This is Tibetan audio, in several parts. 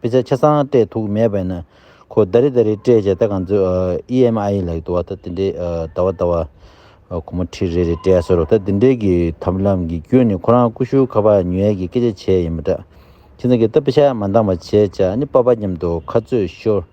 དཔེ་ཆ་ཆ་ཚང་སྤྲད་ཐུག་མེད་པས་ན་ཁོ་བདའ་རེ་བདའ་རེ་སྤྲད་བྱས་ད་གང་ཚོད EMI ལགས་འདུག་བ་ད་དེ་འདྲའི་བདའ་བ་བདའ་བ། ཁོ་མོ་ཁྲིད་རེ་རེ་སྤྲད་ཟེར་རོ་ད་དེ་འདྲའི་གི་ཐབས་ལམ་གི་བརྒྱུད་ནས་ཁོ་རང་ཀུ་ཤུ་ཁ་བ་ཉོས་ཡས་ཀྱི་སྐད་ཆ་བྱས་ཡིན་པ་འདྲ། ཁྱེད་ཚང་གིས་ད་དཔེ་ཆ་མ་འདང་བ་བྱས་བྱས་ཨ་ནི་པ་པ་སྙམ་དུ་ཁ་རྩོད་ཤོར།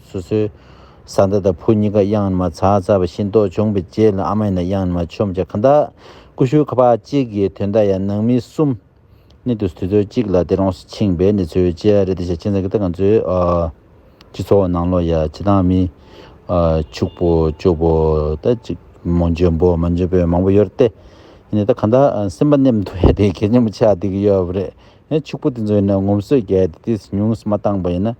སོ་སོའི། བཟའ་ཟླ་དང་བུ་གཉིས་ཀ་གཡང་མ་ཚ་ཚ་བ་ཤིང་ཏོག་བྱུང་པའི་རྗེས་ལ་ཨ་མ་ཡིན་ན་གཡང་མ་ཆོམ་བྱ་ཁ་འདའ། ཀུ་ཤུ་ཁ་བ་གཅིག་གིས་དོན་དག་ཡང་ནང་མི་གསུམ། ནི་དུས་སུ་དུས་ཚོད་གཅིག་ལ་དེ་རང་སུ་ཕྱིན་པས་ནི་ཚོའི་ལྕེ་ཡ་རེད་དེ་ཞེས་ཁྱིམ་ཚང་གི་ཏང་ཙུའི། སྤྱི་ཚོགས་ནང་ལོ་ཡ་བྱེད་སྟངས་མི། ཕྱུག་པོ་སྐྱོ་པོ་ད་ཅིག་མོ་འཇོན་པོ་མ་འཇོན་པོའི་མང་པོ་ཡོད་རེད་དེ། ཡིན་ནའི་ད་ག་འདའ་སེམས་པ་ནེམ་དུ་ཡ་དེ་གལ་ཆེན་པོ་ཆགས་བསྡད་ཀྱི་ཡོད་རེད། ཕྱུག་པོ་དེ་ཚོ་ཡིན་ན་ངོམ་སོས་བརྒྱལ་ཏེ་དུས་སུ་ཉུང་སུ་མ་བཏང་པ་ཡིན་ན།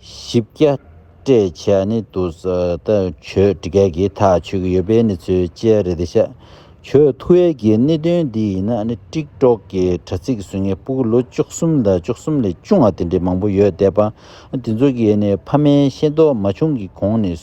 བཞི་བརྒྱ། སྤྲད་བྱ་ནི་དུ་ཟླ་ཆོས་འདི་ག་གི་ཐག་ཆོད་ཀྱི་ཡོད་པའི་ནི་ཚུལ་བཅད་རེ་ད་བྱ། ཆོས་མཐུ་ཡས་ཀྱི་ནི་དོན་འདི་ཡིན་ན་ནི་དཀྲིགས་གྲོགས་ཀྱི་དྲ་ཚིགས་སུ་ངའི་སྤུ་གུ་ལོ་བཅུ་གསུམ་དང་བཅུ་གསུམ་ལས་ཅུང་ང་དེ་འདྲའི་མང་པོ་ཡོད་བསྡད་པ། དེ་ཚོ་གི་ནི་ཕ་མའི་ཤེས་རྟོགས་མ་བྱུང་གི་གོང་ནས།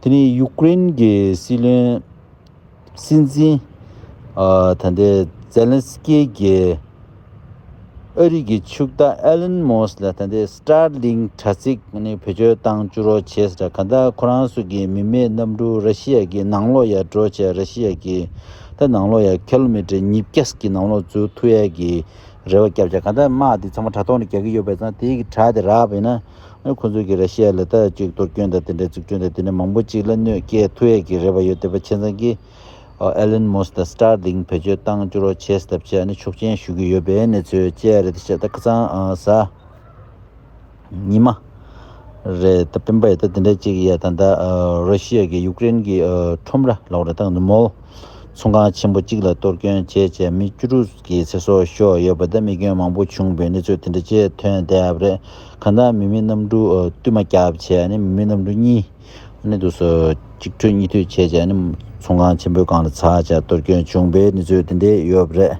དེ་ནི་ཡུག་ཀེ་རེན་གྱི་སྲིད་བློན། སྲིད་འཛིན། ད་ལྟའི་ཛེ་ལན་སི་ཀེ་རྒྱལ། ཨ་རིག་གི་ཕྱུག་བདག་ཨེ་ལན་མོ་སི་ལ་ད་ལྟའི་སི་ཏྲ་ལིང་དྲ་ཚིགས་ནི་བེད་སྤྱོད་བཏང་བཅུ་རོགས་བྱེད་སི་ཏྲ་ག་ད་ཁོ་རང་སུ་གི་མི་མེད་གནམ་གྲུ་ར་ཤི་ཡ་གི་ནང་ལོག་ཡ་འགྲོ་བྱས་ར་ཤི་ཡ་གི་ད་ནང་ལོག་ཡ་ཁེ་ལོ་མི་ཏྲེ་ཉིས་བརྒྱ་སི་ཀི་ནང་ལོག་འཛུལ་ཐུ་ཡ་གི་རེ་བ་བསྐྱབ་བྱས་ག་ད་དམག་དེ་ཚང་མ་དྲ་ཐོག་ནས་རྒྱག་གི་ཡོད་པས་ཙང་དེ་གི་དྲ་དེ་རག་པས་ན་ཁོ་ཚོས་ཀྱིས་ར་ཤི་ཡ་ལ་ད་ཅིག་གཏོར་སྐྱོན་དང་དེ་འདྲའི་རྩུབ་སྤྱོད་དང་དེ་ནས་མང་པོ་ཅིག་ལ་གནོད་སྐྱེལ་ཐུ་ཡས་ཀྱི་རེ་བ་ཡོད་དེ་པ་ཆེ་ཚང་གིས Elon Musk དང Starlink བེད་སྤྱོད་བཏང་བཅུ་རོགས་བྱས་སྟབས་ཆེ་ཡ་ནི་ཆོག་མཆན་ཞུ་གི་ཡོད་པའི་གནས་ཚུལ་བཅས་རེད་དེ་བྱས་ད་ཁ་ཚང་ཟ་ཉི་མ་རེད་ད་སྤེན་པ་ཡ་ད་དེ་འདྲ་ཅིག་ཡ་ད་ད་ར་ཤི་ཡ་གིས་ཡུག་རེན་གྱི་ཁྲོམ་ར་ལོག་ར་ད་ནུ་མོལ་ཚོང་ཁང་ཆེན་པོ་ཅིག་ལ་གཏོར་སྐྱོན་བྱས་བྱས་མི་བཅུ་དྲུག་གི་ཚེ་སྲོག་ཤོར་ཡོད་པ་ད་རྨི་སྐྱོན་མང་པོ་བྱུང་བའི་གནས་ཚུལ་དེ་འདྲ་བཅས་ཐོན་སྡད་རེད། གང་དག་མི་མེད་རྣམ་དྲུག་བསྟུད་མ་ཁྱབ་བྱེད་ནི་མི་མེད་རྣམ་དྲུག་གཉིས། ནི་དུ་སོ། གཅིག་འཕྲོས་གཉིས་མཐུད་བྱེད་ཅེས་ནི། ཚོང་ཁང་ཆེན་པོའི་སྒང་ལ་ཚ་བྱ་གཏོར་སྐྱོན་བྱུང་པའི་ནི་ཚོད་དེ་འདི་ཡོད་པ་རེད།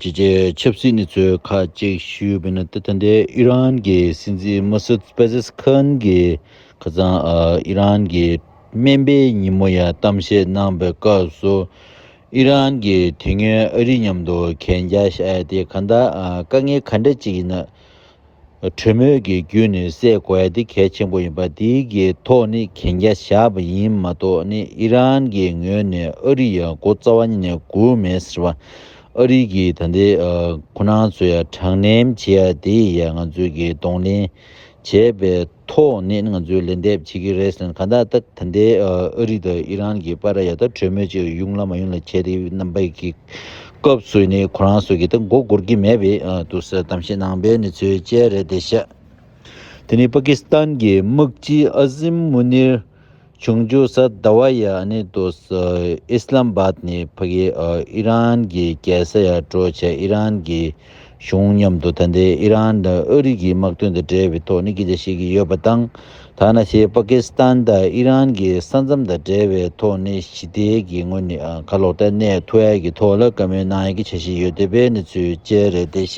ཅེས་བྱས་ཆབ་སྲིད་ནི་ཚོད་ཁ་ཅིག་ཞུས་པའི་ནི་ཏི་ཐ་འདི་ཨི་རན་གྱི་སྲིད་འཛིན་མོ་སུད་པེ་ཟེས་ཁོན་གྱི་ཁ་ཚང་ཨི་རན་གྱི་སྨན་པའི་ཉིན་མོ་ཡ་གཏམ་བཤད་གནང་པའི་སྐབས་སུ། ཨི་རན་གྱིས་དུས་ངན་ཨ་རི་མཉམ་དུ་གན་རྒྱ་བཤད་དེ་ག་ད་དཀའ་ངལ་ག་འདྲ་ཅིག་ཡིན་ན་གྲོས་མོལ་གྱི་བརྒྱུད་ནས་སེལ་དགོས་དེ་གལ་ཆེན་པོ་ཡིན་པ་དེའི་གི་ཐོག་ནས་གན་རྒྱ་བཞག་པ་ཡིན་མ་གཏོགས་ནི་ཨི་རན་གྱི་ངོས་ནས་ཨ་རི་ཡ་མགོ་རྩ་བ་ཉིད་ནས་སྒུག་མེད་ཟེར་བ་ཨ་རི་གི་ད་ལྟའི་ཁོ་ན་ཚོ་ཡ་དྲང་ནན་བྱེད་ཡ་དེ་ཡ་ང་ཚོའི་གི་གདོང་ལེན་བྱས་པའི་ཐོག་ནས་ང་ཚོས་ལན་འདེབས་བྱེད་ཀྱི་རེད་ཟེར་ན་གང་ལྟར་ད་ལྟའི་ཨ་རི་དང་ཨི་རན་གྱི་པ་ར་ཡ་ད་གྲོས་མོལ་ཅིག་ཡོང་ལ་མ་ཡོང་ལ་བྱས་ཏེ་རྣམ་པ་ཀྱི་སྐབས་སུ་ནི་ཁོ་རང་སོ་གི་ད་མགོ་སྒུར་གྱི་མེད་པའི་འདུག་ཟེར་གཏམ་བཤད་གནང་པའི་ནི་ཚོད་དཔྱད་རེད་དེ་བཤད། དེ་ནི་པ་ཀི་སི་ཐན་གྱི་དམག་སྤྱི་ཨ་ཟིམ་མུ་ནིར། ཆུང་ཆུང་སར་ཟླ་བ་ཡི་གནས་ཏོ་སི་ཨི་སི་ལམ་བྷ་ཏི་ནས་ཕ་གི་ཨི་རན་གི་རྒྱལ་ས་ཡར་སྤྲོད་བྱས་ཨི་རན་གྱི་གཞུང་མཉམ་དུ་ད་ལྟའི་ཨི་རན་དང་ཨི་རིག་གི་དམག་དོན་དང་འབྲེལ་བའི་ཐོག་ནས་སྐད་ཆ་བཤད་ཀྱི་ཡོད་པ་དང་ཐ་ན་ཞེས་པ་ཀི་སི་ཐན་དང་ཨི་རན་གྱི་ས་མཚམས་དང་འབྲེལ་བའི་ཐོག་ནས་ཞི་བདེ་གི་ངོས་ནས་ཁ་ལོ་ཏའི་གནས་ཐུ་ཨའི་གི་ཐོག་ལ་བཀའ་མོལ་གནང་ཡི་གི་བྱ་བཞིན་ཡོད་འདི་པའི་གནས་ཚུལ་བཅས་རེད་དེ་ཤ་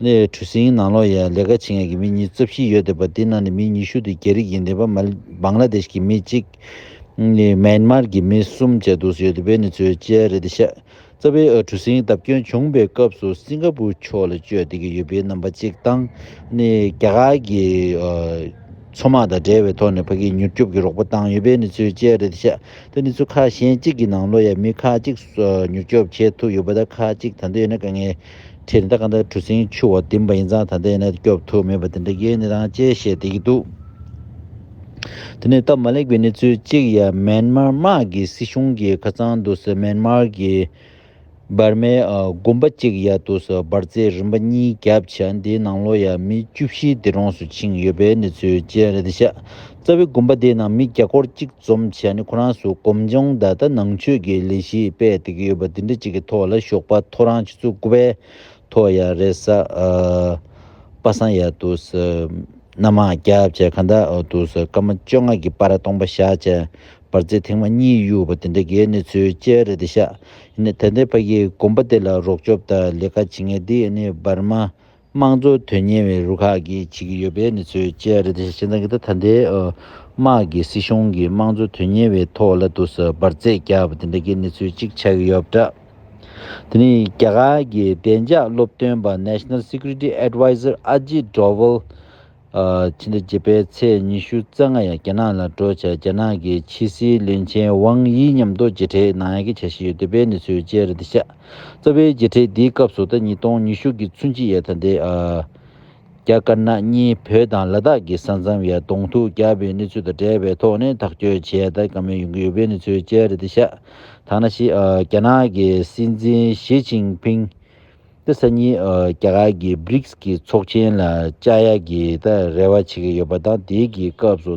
ནས་གྲུ་གཟིངས་ནང་ལོགས་ཡས་ལས་ཀ་བྱེད་མཁན་གྱི་མི་ཉིས་བརྩེ་བཞི་ཡོད་འདུག་པ་དེའི་ནང་ནས་མི་ཉི་ཤུ་དེ་རྒྱ་རིགས་ཡིན་འདུག་པ་སྦང་ལ་དེ་ཤི་གི་མི་གཅིག་ནས་མཱན་མཱར་གྱི་མི་གསུམ་བཅས་འདུག་ཟེར་ཡོད་འདུག་པའི་གནས་ཚུལ་བཅས་རེད་འདུག་ཤ་ཚ་བའི་གྲུ་གཟིངས་བརྡབ་སྐྱོན་བྱུང་པའི་སྐབས་སུ་སིང་ག་པུར་ཕྱོགས་ལ་བསྐྱོད་བསྡད་ཀྱི་ཡོད་པའི་རྣམ་པ་གཅིག་དང། རྒྱ་གར་གྱི་མཚོ་དམག་དང་འབྲེལ་བའི་ཐོག་ནས་ཕ་གིའི་མྱུར་སྐྱོབ་ཀྱི་རོགས་པ་བཏང་ཡོད་པའི་གནས་ཚུལ་བཅས་རེད་འདུག་ཤ་ཚ་གནས་ཚུལ་ཁག་གཞན་གཅིག་གི་ནང་ལོགས་ཡས་མི་ཁག་གཅིག་མྱུར་སྐྱོབ་བྱེད་ཐུབ་ཡོད་པ་དང་ཁག་གཅིག་ད་འདོད་ཡོད་ན་དཀའ་ངལ་ཁྱེད་དེ་འདྲ་གང་ལྟར་གྲུ་གཟིངས་ཆུ་བ་བདུན་པ་ཡིན་ཙང་ད་ལྟའི་གནས་དེ་སྐྱོབ་ཐུབ་མེད་པ་དེ་འདྲ་ཡོད་ནི་དང་ཅེས་བཤད་བསྡད་ཀྱི་འདུག་དེ་ནི་སྟབས་མ་ལེགས་པའི་གནས་ཚུལ་གཅིག་ཡ་མན་མར་དམག་གི་སྲིད་གཞུང་གི་ཁ་ཚང་དུ་སོ་མན་མར་གྱི་འབར་མའི་དགོན་པ་གཅིག་ཡ་དུ་སོ་འབར་རྫས་རིམ་པ་གཉིས་བརྒྱབ་བྱ་འདིའི་ནང་ལོ་ཡ་མི་བཅུ་བཞིའི་སྡེ་གྲོངས་སུ་ཕྱིན་ཡོད་པའི་གནས་ཚུལ་བཅས་རེད་དེ་ཤ་རྩ་བའི་དགོན་པ་དེའི་ནང་མི་བརྒྱ་སྐོར་གཅིག་འཛོམས་བྱས་ནས་ཁོ་རང་ཚོའི་སྒོམ་སྦྱོང་ད་ལྟ་ནང་ཆོས་ཀྱི་ལས་གཞི་སྤེལ་བསྡད་ཀྱི་ཡོད་པ་འདི་འདྲ་གཅིག་གི་ཐོག་ལ་ཞོགས་པ་ཐོ་རངས་ཆུ་ཚོད་དགུ་པའི་ཐོག་ཡ་རེད་ས་པ་སངས་ཡ་འདུག་ས་སྣ་མང་བརྒྱ་བྱས་ག་འདྲ་འདུག་ས་སྐར་མ་བཅོ་ལྔ་གྱི་པར་སྟོང་པ་བཞག་བྱས་པར་ཚེ་ཐེངས་མ་གཉིས་གཡུགས་པ་འདི་འདྲ་གའི་གནས་ཚུལ་བཅས་རེད་འདི་ཤག་ཡིན་ད་ལྟའི་བར་གྱི་དགོན་པ་དེ་ལ་རོགས་སྐྱོབ་དང་ལས་ཀ་བྱེད་མཁན་འདི་ནི་འབར་མ་དམངས་འཚོ་དོན་གཉེར་བའི་རུ་ཁག་གིས་བྱེད་ཀྱི་ཡོད་པའི་གནས་ཚུལ་བཅས་རེད། དེ་བཞིན་ད་ལྟའི་དམག་གིས་སྲིད་གཞུང་གི་དམངས་འཚོ་དོན་གཉེར་བའི་ཐོག་བླ་དུ་སོགས་འབར་རྫས་བརྒྱབ་པ་དེ་འདྲ་གི་གནས་ཚུལ་གཅིག་ཆགས་ཀྱི་ཡོད་པ་འདྲ། དེ་ནི་རྒྱ་གར་གྱི་བདེ་འཇགས་སློབ་སྟོན་པ National Security Adviser Ajit Doval ཕྱི་ཟླ་བརྒྱད་པའི་ཚེས་ཉི་ཤུ་རྩ་ལྔ་ཡང་རྒྱ་ནག་ལ་བྲོས་བྱས་རྒྱ་ནག་གི་ཕྱི་སྲིད་བློན་ཆེན་ཝང་དབྱི་མཉམ་དུ་མཇལ་འཕྲད་གནང་ཡག་གི་བྱ་བཞིན་ཡོད་འདུག་པའི་གནས་ཚུལ་བཅས་རེ་འདི་ཤ་སྟག་པའི་མཇལ་འཕྲད་འདིའི་སྐབས་སུ་ཟླ་ཉིས་སྟོང་ཉི་ཤུ་གི་ཚུན་ཆི་ཡའི་ཐ་དད་རྒྱ་དཀར་ནག་གཉིས་བོད་དང་ལ་དྭགས་ཀྱི་ས་མཚམས་ཡར་གདོང་ཐུག་བརྒྱབ་པའི་གནས་ཚུལ་དང་འབྲེལ་བའི་ཐོག་ནས་ཐག་གཅོད་བྱས་ད་ག་མེད་ཡོང་གི་ཡོད་པའི་གནས་ཚུལ་བཅས་རེ་འདི་ཤ་སྟག་ན་ཤི་རྒྱ་ནག་གི་སྲིད་འཛིན་ཞི་ཅིང་ཕིང། དེ་སང་ཉིན་རྒྱ་གར་གྱི Brics གྱི་ཚོགས་ཆེན་ལ་བཅར་ཡག་གི་རེ་བ་བྱེད་ཀྱི་ཡོད་པ་དང་དེའི་གི་སྐབས་སུ་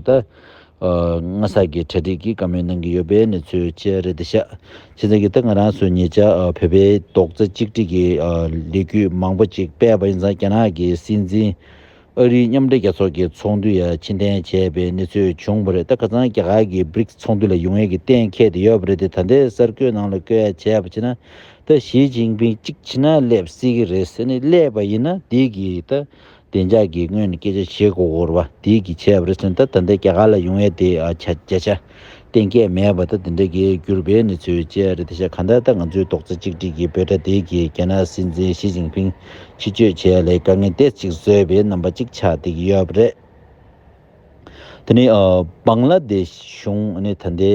ངྷ་ས་གྱི་གྲ་སྒྲིག་གི་བཀའ་མོལ་གནང་གི་ཡོད་པའི་གནས་ཚུལ་བཅས་རེད་དེ་ཤག་ཆེ་ཚང་གིས་ང་རང་ཚོའི་ཉེ་ཆར་བོད་པའི་རྡོག་རྩ་གཅིག་སྒྲིག་གི་ལས་གུས་མང་པོ་ཅིག་སྤེལ་བ་ཡིན་ཙང་རྒྱ་ནག་གི་སྲིད་འཛིན་ཨ་རིའི་མཉམ་འབྲེལ་རྒྱལ་ཚོགས་ཀྱི་ཚོགས་འདུ་ཡར་ཕྱིན་ཐེངས་བརྒྱད་པའི་གནས་ཚུལ་བྱུང་བ་རེད་ད་ཁ་ཚང་རྒྱ་གར་གྱི Brics ཚོགས་འདུ་ལ་ཡུང་ཡེ་གི་གཏན་ཁེལ་དེ་ཡོད་པ་རེད་དེ་ད་ལྟའི་གསར་འགོད་ནང་ལ་བསྐོས་ཡ་བྱས་པ་བྱས་ན་ད་ཞིས་ཅིང་ཕིང་གཅིག་ཕྱིན་ན་སླེབས་སྲིད་ཀྱི་རེད་ཟེར་ནས་སླེབས་པ་ཡིན་ན་དེས་ཀྱི་ད་བདེ་འཇགས་ཀྱི་སྔོན་ནས་སྐད་ཆ་བྱེད་དགོས་བར་བ་དེས་ཀྱི་བྱས་པ་རེད་ཟེར་ན་ད་ད་ལྟའི་རྒྱ་གར་ལ་ཡུང་ཡེ་དེ་བྱ་བྱ་བསྟན་སྐད་མེད་པ་དང་དེ་འདྲ་གི་གྱུར་པའི་གནས་ཚུལ་བཅས་རེད་དེ་ཤ་ག་འདའ་ད་ང་ཚོའི་རྡོག་རྩ་གཅིག་སྒྲིལ་གྱི་བོད་དགྲ་ལྡེ་གིས་རྒྱ་ནག་སྲིད་འཛིན་ཞི་ཅིང་ཕིང་ཕྱི་བསྐྱོད་བྱས་ལས་དཀའ་ངལ་དེ་ཅིག་བཟོས་པའི་རྣམ་པ་གཅིག་ཆགས་བསྡད་ཀྱི་ཡོད་པ་རེད། དེ་ནི་བང་ལ་དེ་ཤ་གཞུང་ནི་ད་ལྟའི་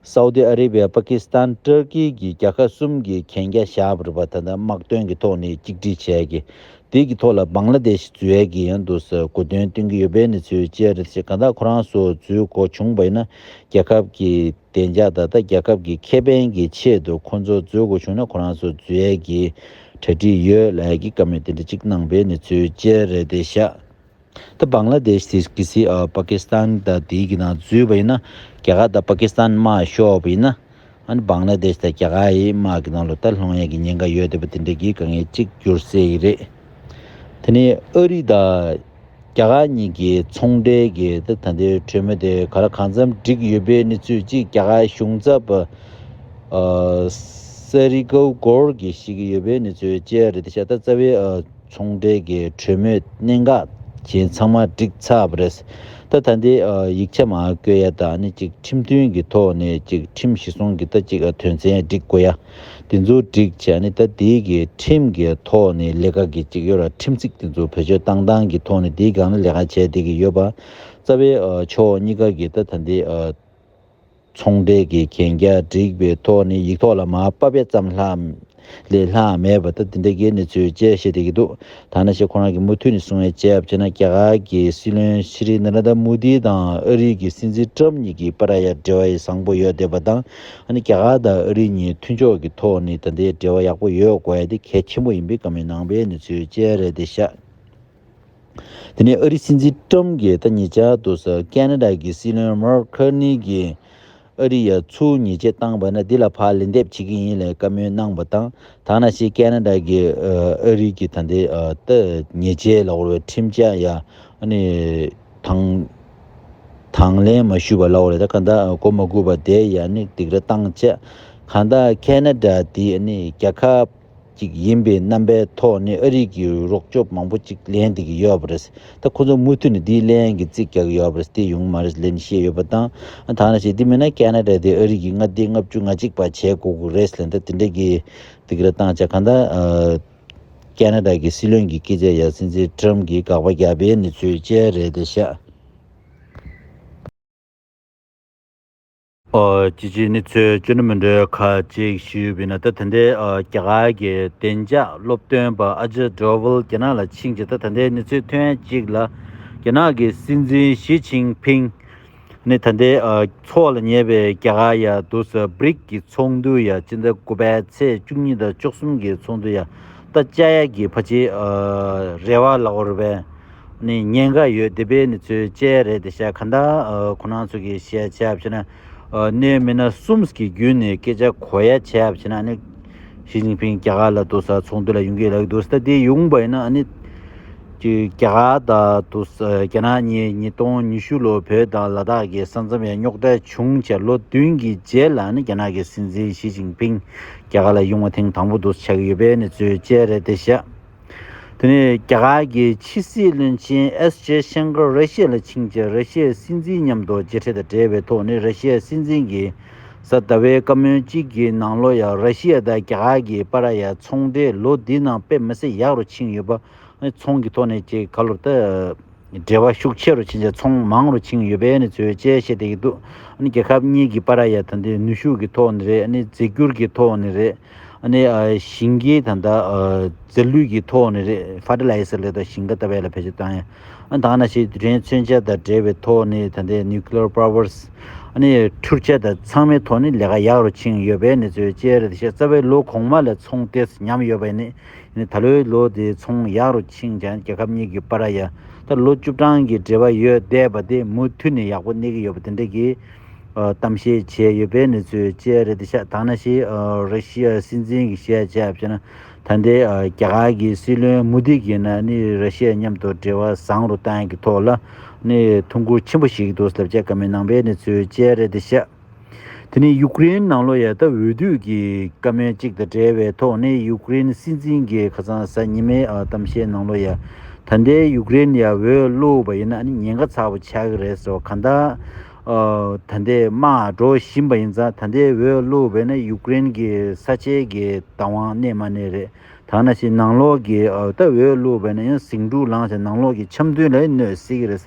སའུ་ཏི་ཨ་རི་བྷེ་པ་ཀི་སི་ཐན་ཏུར་ཀི་གི་རྒྱལ་ཁ་གསུམ་གྱི་གན་རྒྱ་བཞག་པ་རེད་པ་ད་ལྟ་དམག་དོན་གྱི་ཐོག་ནས་གཅིག་སྒྲིལ་བྱས་ཀྱི་དེ་གི་ཐོག་ལ་བཱང་ལ་དེ་ཤི་འཛུལ་ཡ་གི་ཡོད་འདུག་ས་གོ་དོན་སྟོན་གི་ཡོད་པའི་གནས་ཚུལ་བཅས་རེད་ཅེས་ག་ད་ཁོ་རང་སོ་འཛུལ་གོ་བྱུང་བ་ཡིན་ན་རྒྱལ་ཁབ་གི་བདེ་འཇགས་ད་ལྟ་རྒྱལ་ཁབ་གི་ཁེ་ཕན་གི་ཆེད་དུ་ཁོ་ཚོ་འཛུལ་གོ་བྱུང་ན་ཁོ་རང་སོ་འཛུལ་ཡ་གི་གྲ་སྒྲིག་ཡོད་ལ་ཡ་གི་བཀའ་མོས་དེ་འདྲ་གཅིག་གནང་པའི་གནས་ཚུལ་བཅས་རེད་དེ་ཤ་ད་བཱང་ལ་དེ་ཤི་ཀི་སི་ཨ་པ་ཀི་སི་ཐན་ད་དེའི་གི་ནང་འཛུལ་བ་ཡིན་ན་རྒྱ་གར་ད་པཱ་ཀི་སི་ཐན་དམག་ཤོར་བ་ཡིན་ན་ཨ་ནི་བཱང་ལ་དེ་ཤི་ད་རྒྱ་གར་ཡི་དམག་གི་ནང་ལོ་ད་ལྷོང་ཡ་གི་ཉེན་ཁ་ཡོད་དེ་པ་དེ་འདྲ་གི་ག་ངེས་གཅིག་འགྱུར་སེ་ཡི་རེད། དེ་ནི་ཨ་རི་ད་རྒྱ་གར་གཉིས་གི་ཚོང་འབྲེལ་གི་ད་ད་ནྡའི་གྲོས་མོལ་དེ་ག་ར་གང་འཚམས་འགྲིག་ཡོད་པའི་ནི་ཚུལ་གཅིག་རྒྱ་གར་གཞུང་ཚབ་པ་ཨ་སེ་རི་ཀའུ་སྒོར་གི་ཤི་ཀི་ཡོད་པའི་ནི་ཚུལ་བཅས་རེད་དེ་ཤ་ད་རྩ་བའི་ཨ། ཚོང་འབྲེལ་གྱི་གྲོས་མོལ་གནད་འགག་བཞིན་ཚང་མ་འགྲིག་ཚར་བ་རེད། ད་ད་འདི་ཡིག་ཆ་མ་བཀོད་ཡ་ད་ནི་ཅིག་ཁྲིམས་མཐུན་གྱི་ཐོག་ནས་ཅིག་ཁྲིམས་གཞི་བཟུང་གི་ད་ཅིག་དོན་ཚན་སྒྲིག་དགོས་ཡ། དེ་ཚོ་སྒྲིག་བྱས་ནི་ད་དེ་གི་ཁྲིམས་གི་ཐོག་ནས་ལས་ཀ་གི་ཅིག་ཡོད་ར་ཁྲིམས་ཚིག་དེ་ཚོ་བེད་སྤྱོད་བཏང་སྟངས་གི་ཐོག་ནས་དེ་གང་ལ་ལས་ཀ་བྱས་དེ་གི་ཡོད་པ་རྩ་བའི་ཕྱོགས་གཉིས་ཀ་གི་ད་ད་འདི། ཚོང་འབྲེལ་གྱི་གན་རྒྱ་བསྒྲིགས་པའི་ཐོག་ནས་ཡིག་ཐོག་ལ་མ་དཔར་བས་ཙམ་ལྷག་ལས་ལྷག་མེད་པ་ལྟར་འདི་འདྲ་གི་གནས་ཚུལ་བཅས་བཤད་བསྡད་ཀྱི་འདུག་ཐ་ན་ཞེས་ཁོ་རང་གིས་མུ་མཐུད་ནས་གསུང་བའི་དཔྱད་བྱས་ན་རྒྱ་གར་གྱི་སྲིད་བློན་ཤི་རི་ན་ར་ཐ་མུ་དྷི་དང་ཨ་རིའི་གི་སྲིད་འཛིན་ཀྲམ་གཉིས་ཀྱི་བར་ཧ་ཡག་འབྲེལ་བ་ཡི་བཟང་པོ་ཡོད་བསྡད་པ་དང་ཨ་ནི་རྒྱ་གར་དང་ཨ་རི་གཉིས་མཐུན་ཕྱོགས་ཀྱི་ཐོག་ནས་ད་ལྟའི་འབྲེལ་བ་ཡག་པོ་ཡོད་དགོས་ཡ་དེ་གལ་ཆེན་པོ་ཡིན་པའི་ག་མེད་ནང་པའི་གནས་ཚུལ་བཅས་རེད་བསྡད་ཤག། དེ་ནས་ཨ་རིའི་སྲིད་འཛིན་ཀྲུམ་གྱིས་ད་ཉེ་ཆར་དུ་ས་ཀེ་ན་ད་ཀྱི་སྲིད་བློན་མར་ཁར་ནི་གྱིས་ཨ་རི་ཡ་ཚུར་ཉེས་ཆད་བཏང་བ་ན་འདི་ལ་ཕར་ལན་འདེབས་བྱེད་ཀྱི་ཡིན་ལས་བཀའ་མོལ་གནང་བ་དང་ད་ང་ཤི་ཀེ་ན་ད་ཀྱིས་ཨ་རི་གྱི་ད་ལྟའི་ད་ཉེས་ཆད་ལ་བོར་བའི་ཁྲིམས་འཆར་ཡ་ནི་དང་དང་ལེན་མ་ཞུས་པ་ལ་བོར་བའི་ད་ག་ད་གོ་མ་གུས་པ་དེ་ཡ་ནི་སྡིགས་ར་བཏང་བྱས་ག་ད་ཀེ་ན་ད་དེ་ནི་རྒྱ་ཁབ། ཅིག་ཡིན་པའི་རྣམ་པའི་ཐོག་ནས་ཨ་རིག་གི་རོགས་སྐྱོབ་མང་པོ་ཅིག་ལེན་བསྡད་ཀྱི་ཡོད་པ་རེད། ད་ཁོ་ཚོ་མུ་མཐུད་ནས་དེའི་ལན་གྱི་རྩིས་རྒྱག་གི་ཡོད་པ་རེད་དེ་ཡོང་གི་མ་རེད་ལན་བཤད་ཡོད་པ་དང། ཐ་ན་བྱས་དེ་མིན་ན་ཀ་ན་ར་དེ་ཨ་རིག་གི་ལྔ་བདེ་ལྔ་བཅུ་ང་གཅིག་པ་བྱས་དགོས་ཀྱི་རེད་ལན་ད་དེ་འདྲ་གི་འདུག་ར་བཏང་བྱ་གང་ད། ཀ་ན་ར་གི་སྲིད་བློན་གྱི་སྐད་ཆ་ཡ་སྲིད་འཛིན Trump གྱི་དགག་པ་རྒྱག་པའི་ནི་ཚོད་ཅལ་རེད་ད་ཤ། ཅི་བྱས་ནི་ཚོས་བཅོས་ནི་མི་འདྲ་བའི་ཁ་ཅིག་ཞུས་པས་ན་ད་ཐ་འདི་རྒྱ་གར་གྱི་བདེ་འཇགས་སློབ་སྟོན་པ་ཨ་ཇཱི་ཏྲོ་བྷིལ་རྒྱ་ནག་ལ་ཕྱིན་རྗེས་ད་ཐ་འདི་ནི་ཚོས་ཐུན་གཅིག་ལ་རྒྱ་ནག་གི་སྲིད་འཛིན་ཞི་ཅིང་ཕིང་ནི་ད་འདི་ཚོགས་ལ་ཉེ་བའི་རྒྱ་གར་ཡ་དུ་ས་བིརིག་གི་ཚོགས་འདུ་ཡ་སྤྱི་ཟླ་དགུ་པའི་ཚེས་བཅུ་གཉིས་དང་བཅུ་གསུམ་གྱི་ཚོགས་འདུ་ཡ་ད་ཅཱ་ཡ་གི་བྷ་ཇི་རེ་བྷ་ལ་ཧོར་བྷེ་ནི་ཉེན་ཁ་ཡོད་དེ་པའི་ནི་ཚོའི་དཔྱད་རེད་དེ་ཤ་ག་འདའ་ཁོ་ནང་ཚོ་གི་ཤ་ཆེ་ཡབ་ཆེ་ན་ནི་མི་ན་གསུམ་གི་རྒྱུད་ནི་སྐད་ཆ་གོ་ཡ་ཆེ་ཡབ་ཆེ་ན་ནི་ཞི་ཅིང་ཕིང་རྒྱ་གར་ལ་དུ་ས་ཚོང་དུ་ལ་ཡུང་གི་ལ་གི་དུ་ས་ད་དེ་ཡུང་བ་ཡིན་ན་ནི་ཀྱི་རྒྱ་གར་ད་དུ་ས་རྒྱ་ནག་ཉི་ཉི་སྟོང་ཉི་ཤུ་ལོ་བོད་དང་ལ་དྭགས་གི་ས་མཚམས་ཡ་རྙོག་དྲ་བྱུང་ཆ་ལོ་བདུན་གི་རྗེས་ལ་ནི་རྒྱ་ནག་གི་སྲིད་འཛིན་ཞི་ཅིང་ཕིང་རྒྱ་གར་ལ་ཡུང་བ་ཐེངས་དང་པོ་དུ་ས་ཆགས་ཡོད་པའི་ནི་ཚོའི་དཔྱད་རེད་དེ་ཤ། དེ་ནས་རྒྱ་གར་གྱི་ཕྱི་སྲིད་བློན་ཆེན་ཨེས་ཇེ་ཤངྐ་ར་རེ་ཤི་ཡ་ལ་ཕྱིན་རྗེས་ར་ཤི་ཡའི་སྲིད་འཛིན་མཉམ་དུ་མཇལ་འཕྲད་དང་འབྲེལ་བའི་ཐོག་ནས་ར་ཤི་ཡའི་སྲིད་འཛིན་གྱིས་གཟའ་ཟླ་བའི་བཀའ་མོལ་གཅིག་གི་ནང་ལོ་ཡར་ར་ཤི་ཡ་དང་རྒྱ་གར་གྱི་པ་ར་ཡའི་ཚོང་འབྲེལ་ལོ་འདིའི་ནང་དཔེ་མི་སྲིད་ཡག་རུ་ཕྱིན་ཡོད་པ། ཚོང་གི་ཐོག་ནས་ཀྱི་ཁ་ལོ་ཏི། འབྲེལ་བ་ཤུགས་ཆེ་རུ་ཕྱིན་རྗེས་ཚོང་མང་རུ་ཕྱིན་ཡོད་པའི་གནས་ཚུལ་བཅས་བཤད་བསྡད་ཀྱི་འདུག་རྒྱལ་ཁབ་གཉིས་ཀྱི་པར་ཡ་ད་ནི་ནུས་ཤུགས་ཀྱི་ཐོག་ནས་རེད་རྫས་འགྱུར་གྱི་ཐོག་ནས་རེད། ཞིང་ཁའི་ད་ལྟ་རྫས་ལུད་ཀྱི་ཐོག་ནས་རེད Fertilizer ལས་དང་ཞིང་ཁ་ལྟ་བས་ལ་བེད་སྤྱོད་བཏང་ཡང་དང་ན་ཞིག་དུས་དྲན་མཚོན་ཆ་དང་འབྲེལ་བའི་ཐོག་ནས་ད་ལྟའི Nuclear Powers འཕྲུལ་ཆས་དང་ཚང་མའི་ཐོག་ནས་ལས་ཀ་ཡག་རུ་ཕྱིན་ཡོད་པའི་གནས་ཚུལ་བཅས་རེད་དེ་བཞིན་རྩ་བའི་ལོ་གོང་མ་ལས་ཚོང་དེ་ཉམས་ཡོད་པ་ནི། ད་ལོའི་ལོ་དེའི་ཚོང་ཡག་རུ་ཕྱིན་ཀྱང་རྒྱལ་ཁབ་གཉིས་ཀྱི་པ་ར་ཡ་དང་ལོ་བཅུ་གྲངས་ཀྱི་འབྲེལ་བ་ཡོད་བསྡད་པ་དེ་མུ་མཐུད་ནས་ཡག་པོ་གནས་ཀྱི་ཡོད་པ་དེ་འབྲེལ་གྱི་གཏམ་བཤད་བྱས་ཡོད་པའི་གནས་ཚུལ་བཅས་རེད་དེ་ཤ་ཐང་ན་ཤི་ར་ཤི་ཡའི་སྲིད་འཛིན་གྱི་ཤེས་བྱ་བྱས་ན་ད་ལྟའི་རྒྱ་གར་གྱི་སྲིད་བློན་མུ་དྷི་གྱིས་ནི་ར་ཤི་ཡ་མཉམ་དུ་འབྲེལ་བ་བཟང་རུ་གཏང་གི་ཐོག་ལ་ནི་ཐུགས་འཁུར་ཆེན་པོ་ཞིག་འདུག་ཟླ་བརྒྱད་ཀ་མའི་ནང་པའི་གནས་ཚུལ་བཅས་རེད་དེ་ཤ། དེ་ནི་ཡུཀ་རེན་ནང་ལོ་ཡལ་སྟབས་འོས་བསྡུ་གྱི་བཀའ་མོལ་གཅིག་དང་འབྲེལ་བའི་ཐོག་ནས་ཡུཀ་རེན་སྲིད་འཛིན་གྱི་ཁ་ཚང་ཟ་ཉི་མའི་གཏམ་བཤད་ནང་ལོ་ཡལ་ད་ལྟའི་ཡུཀ་རེན་ཡར་འོས་བླུགས་པ་ཡིན་ན་ཉེན་ཁ་ཚ་བོ་ཆགས་ཀྱི་རེད་ཟེར་བ་གང་ལྟར་ད་ལྟའི་དམག་འགྲོ་བཞིན་པ་ཡིན་ཙང་ད་ལྟའི་འོས་བླུགས་པས་ན་ཡུཀ་རེན་གྱི་ས་ཆའི་གི་བདག་དབང་གནས་མ་གནས་རེད་ད་ང་ན་ཞིག་ནང་ལོག་གི་ད་འོས་བླུགས་པས་ན་ཡང་ཟིང་འཁྲུག་ལངས་ཤིང་ནང་ལོག་གི་འཆམ་མཐུན་ལ་ཡང་གནོད་སྲིད་ཀྱི་རེད།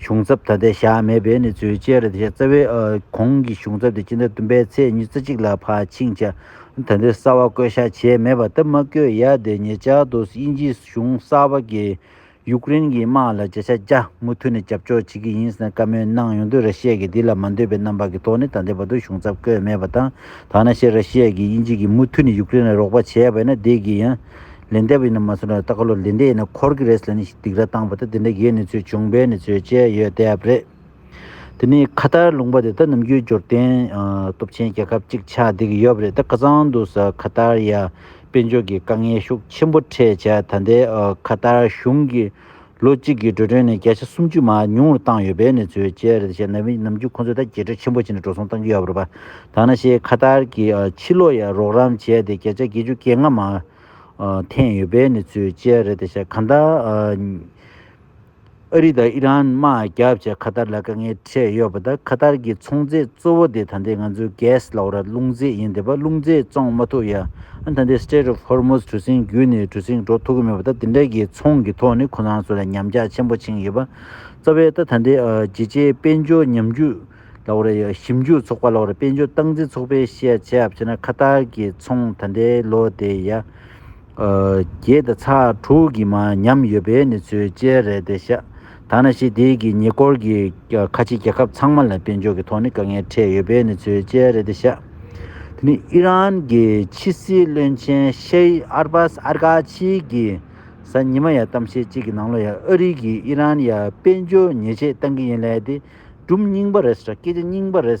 གཞུང་ཚབ་ད་ལྟའི་བཞག་མེད་པས་ནི་བརྫུས་ཅེས་རེད་བྱས་རྩ་བའི་གོང་གི་གཞུང་ཚབ་དེ་སྤྱི་ཟླ་བདུན་པའི་ཚེས་ཉི་ཙེ་གཅིག་ལ་ཕར་ཕྱིན་བྱས་ད་འདིར་གསར་བ་བསྐོས་བཞག་བྱས་མེད་པ་སྟབས་མ་བསྐོས་ཡ་དེ་ཉེ་ཆར་དུ་དབྱིན་ཇིའི་གཞུང་གསར་བ་གིས་ཡུཀ་རེན་གྱི་དམག་ལ་བརྗེད་ཆ་རྒྱ་མུ་མཐུད་ནས་རྒྱབ་སྐྱོར་བྱེད་ཀྱི་ཡིན་ཟེར་ནས་བཀའ་མོལ་གནང་ཡོང་དུས་ར་ཤེ་ཀྱིས་འདི་ལ་མ་འདོད་པའི་རྣམ་པ་གི་ཐོག་ནས་ད་ལྟའི་བར་དུ་གཞུང་ཚབ་བསྐོས་མེད་པ་དང་ཐ་ན་ཤེ་ར་ཤེ་ཀྱིས་དབྱིན་ཇི་གིས་མུ་མཐུད་ནས་ཡུཀ་རེན་ལ་རོགས་པ་བྱས་པས་ན་འདི་གིས་ཡང་ལན་འདེབས་ཡིན་ན་མ་ཟེར་ན་ད་ག་ལོ་ལན་འདེབས་ཡིན་ན་འཁོར་གི་རེད་ཟེར་ནས་སྡིགས་ར་བཏང་བ་ད་དེ་འདྲ་གི་གནས་ཚུལ་བྱུང་བས་ནས་ཚུལ་དཔྱད་ཡོད་དེབ་རེད། དེ་ནས་ཁ་ཏར་ལུང་པ་དེ་ད་ནམ་རྒྱུད་འབྱོར་ལྡན་སྟོབས་ཆེན་རྒྱལ་ཁབ་ཅིག་ཆགས་བསྡད་ཀྱི་ཡོད་པ་རེད་ད་ཁ་ཚང་དུ་ས་ཁ་ཏར་ཡ་དཔལ་འབྱོར་གྱི་དཀའ་ངལ་ཤུགས་ཆེན་པོ་འཕྲད་བྱས་ད་ལྟའི་ཁ་ཏར་གཞུང་གི་ལོ་གཅིག་གི་འགྲོ་གྲོན་ནས་བརྒྱ་ཆ་སུམ་ཅུ་མ་ཉུང་བར་བཏང་ཡོད་པའི་གནས་ཚུལ་བཅས་རེད་ཅེས་ན་ཝིས་ནམ་རྒྱུན་ཁོ་ཚོས་ད་རྒྱལ་གྲོས་ཆེན་པོ་བྱས་ནས་འགྲོ་སོང་གཏང་རྒྱུ་ཡག་པོ་རེད་པ་དང་ན་ཤེས་ཁ་ཐར་གྱིས་ཕྱི་ལོགས་ཡར་རོགས་རམ་བྱས་ཏེ་བརྒྱ་ཆ་བརྒྱད་ཅུ་བརྒྱད་ལྔ་མ་འཐེན་ཡོད་པའི་གནས་ཚུལ་བཅས་རེད་ཅེས་གང་ལྟར། ཨ་རི་དང་ཨི་རན་དམག་རྒྱག་བྱས་ཁ་ཐར་ལ་དཀའ་ངལ། བྱས་ཡོད་པ་དང་གྷ་ཐར་གྱི་ཚོང་རྫས་གཙོ་བོ་དེ་ད་ལྟའི་ང་ཚོའི gas ལ་བར་རླུང་རྫས་ཡིན་དེ་བར་རླུང་རྫས་བཙོང་མ་ཐུབ་ཡང་ད་ལྟའི Strait of Hormuz གྲུ་གཟིངས་བརྒྱུད་ནས་གྲུ་གཟིངས་འགྲོ་ཐུབ་ཀྱི་མེད་པ་དང་དེ་འདྲ་གི་ཚོང་གི་ཐོག་ནས་ཁོ་རང་ཚོ་ལ་ཉམས་ཆག་ཆེན་པོ་བྱིངས་ཡོད་པ་རྩ་བའི་ད་ལྟའི་རྒྱལ་སྤྱིའི་དཔལ་འབྱོར་ཉམས་རྒུད་ལ་བར་ཞིབ་འཇུག་ཚོགས་པ་ལ་བར་དཔལ་འབྱོར་སྟངས་འཛིན་ཚོགས་པས་བཤད་བྱས་བྱས་ན་གྷ་ཐར་གྱི་ཚོང་ད་ལྟའི་ལོ་དེ་ཡ་བརྒྱད་དང་ཚ་དྲུག་གི་མ་ཉམས་ཡོད་པའི་གནས་ཚུལ་བཅས་རེད་དེ་ཤ་ཐ་ན་ཞི་བདེ་གི་ཉེ་འཁོར་གྱི་ཁ་ཆེའི་རྒྱལ་ཁབ་ཚང་མ་ལ་དཔལ་འབྱོར་གྱི་ཐོག་ནས་དཀའ་ངལ་འཕྲད་ཡོད་པའི་གནས་ཚུལ་བཅས་རེད་དེ། ཞི་དེ་ནི་ཨི་རན་གྱི་ཕྱི་སྲིད་བློན་ཆེན Sheikh Abbas Araghchi གིས་གཟའ་ཉི་མ་ཡར་གཏམ་བཤད་ཅིག་གི་ནང་ལོ་ཡར་ཨ་རི་གིས་ཨི་རན་ཡར་དཔལ་འབྱོར་ཉེས་ཆད་གཏང་གི་ཡིན་ལད་དེ་གྲུབ་རྙིང་པ་རེད་ས་སྐད་ཆ་རྙིང་པ་རེད།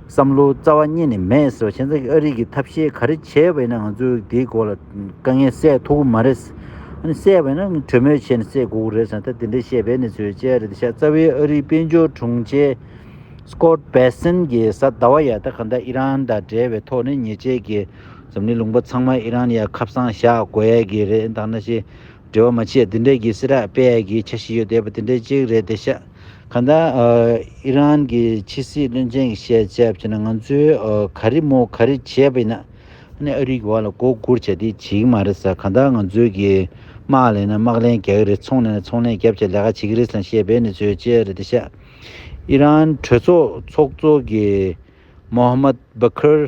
བསམ་བློའི་རྩ་བ་རྙེད་ནི་མེད་ཟེར་བ་བཞིན་ཨ་རིག་གི་ཐབས་ཤེས་ག་རེ་བྱས་བས་ན་ང་ཚོས་དེའི་སྐོར་ལ་དཀའ་ངལ་སེལ་ཐུབ་ཀི་མ་རེད། ཨ་སེལ་བས་ན་གྲོས་མོལ་བྱས་ནས་སེལ་དགོས་ཀི་རེད་ཟེར་ད་དེ་འདྲའི་བཤད་པའི་གནས་ཚུལ་བཅས་རེད་ད་ཤ་རྩ་བའི་ཨ་རིའི་དཔལ་འབྱོར་དྲུང་ཆེ། Scott Bessent། གིས་གཟའ་ཟླ་བ་ཡ་ད་ག་ད་ཨི་རན་དང་འབྲེལ་བའི་ཐོག་ནས་ཉེས་ཆད་ཀྱི་འཛམ་གླིང་ལུང་པ་ཚང་མ་ཨི་རན་ཡ་ཁབ་སང་བཞག་དགོས་ཡ་གི་རེད་ད་ན་ཤེས། འབྲེལ་བ་མ་ཆད་དེ་འབྲེལ་གྱི་སི་ར་པེ་ཡལ་གྱི་ཆ་ཤས་ཡོད་བསྡད་པ་དེ་འདྲའི་གཅིག་རེད་དེ་ཤ་ག་ད་ཨི་རན་གྱི་ཕྱི་སྲིད་བློན་ཆེན་གྱི་བཤད་ཚད་བྱས་ན་ང་ཚོས་ག་རེ་མོ་ག་རེ་བྱས་པ་ཡིན་ན་ཨ་རིའི་བར་ལ་མགོ་སྒུར་བྱས་དེ་བྱེད་ཀྱི་མ་རེད་ས་ག་ད་ང་ཚོས་གིས་དམག་ལས་ན་དམག་ལས་རྒྱག་གི་རེད་ཚོང་ལས་ན་ཚོང་ལས་རྒྱབ་བྱེད་ལས་ཀ་བྱེད་ཀྱི་རེད་ས་བཤད་པའི་གནས་ཚུལ་བཅས་རེད་དེ་ཤ་ཨི་རན་གྲོས་ཚོགས་ཚོགས་གཙོ་གིས་མོ་ཧ་མད་བྷ་ཁར་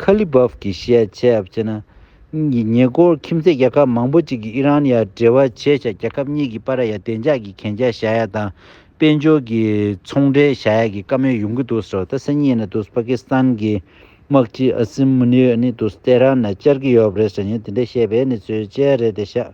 ཁ་ལི་བྷོབ་ཀྱིས་བཤད་ཆེད་སྤྱིར་ན། ཉེ་འཁོར་ཁྱིམ་མཚེས་རྒྱལ་ཁབ་མང་པོ་ཅིག་གིས་ཨི་རན་ཡར་འབྲེལ་བ་བྱས་ཤིང་རྒྱལ་ཁབ་གཉིས་ཀྱི་པར་ར་ཡར་བདེ་འཇགས་ཀྱི་གན་རྒྱ་བཞག་ཡ་དང་དཔལ་འབྱོར་གྱི་ཚོང་འབྲེལ་བཞག་ཡ་གི་བཀའ་མོལ་ཡོང་གི་འདུག་ཟེར་བ་ད་གསལ་ཉིད་ནི་འདུག་པ་ཀི་སི་ཐན་གྱི་དམག་སྤྱི་ཨ་སིམ་མུ་ནི་ཡོད་ནི་འདུག་ཏེ་ཧྲན་ནས་བཅར་གྱི་ཡོད་པ་རེད་ཟེར་ཡིན་དེ་འདྲས་བཤད་པའི་ནི་ཚོད་ཅལ་རེད་དེ་ཤག་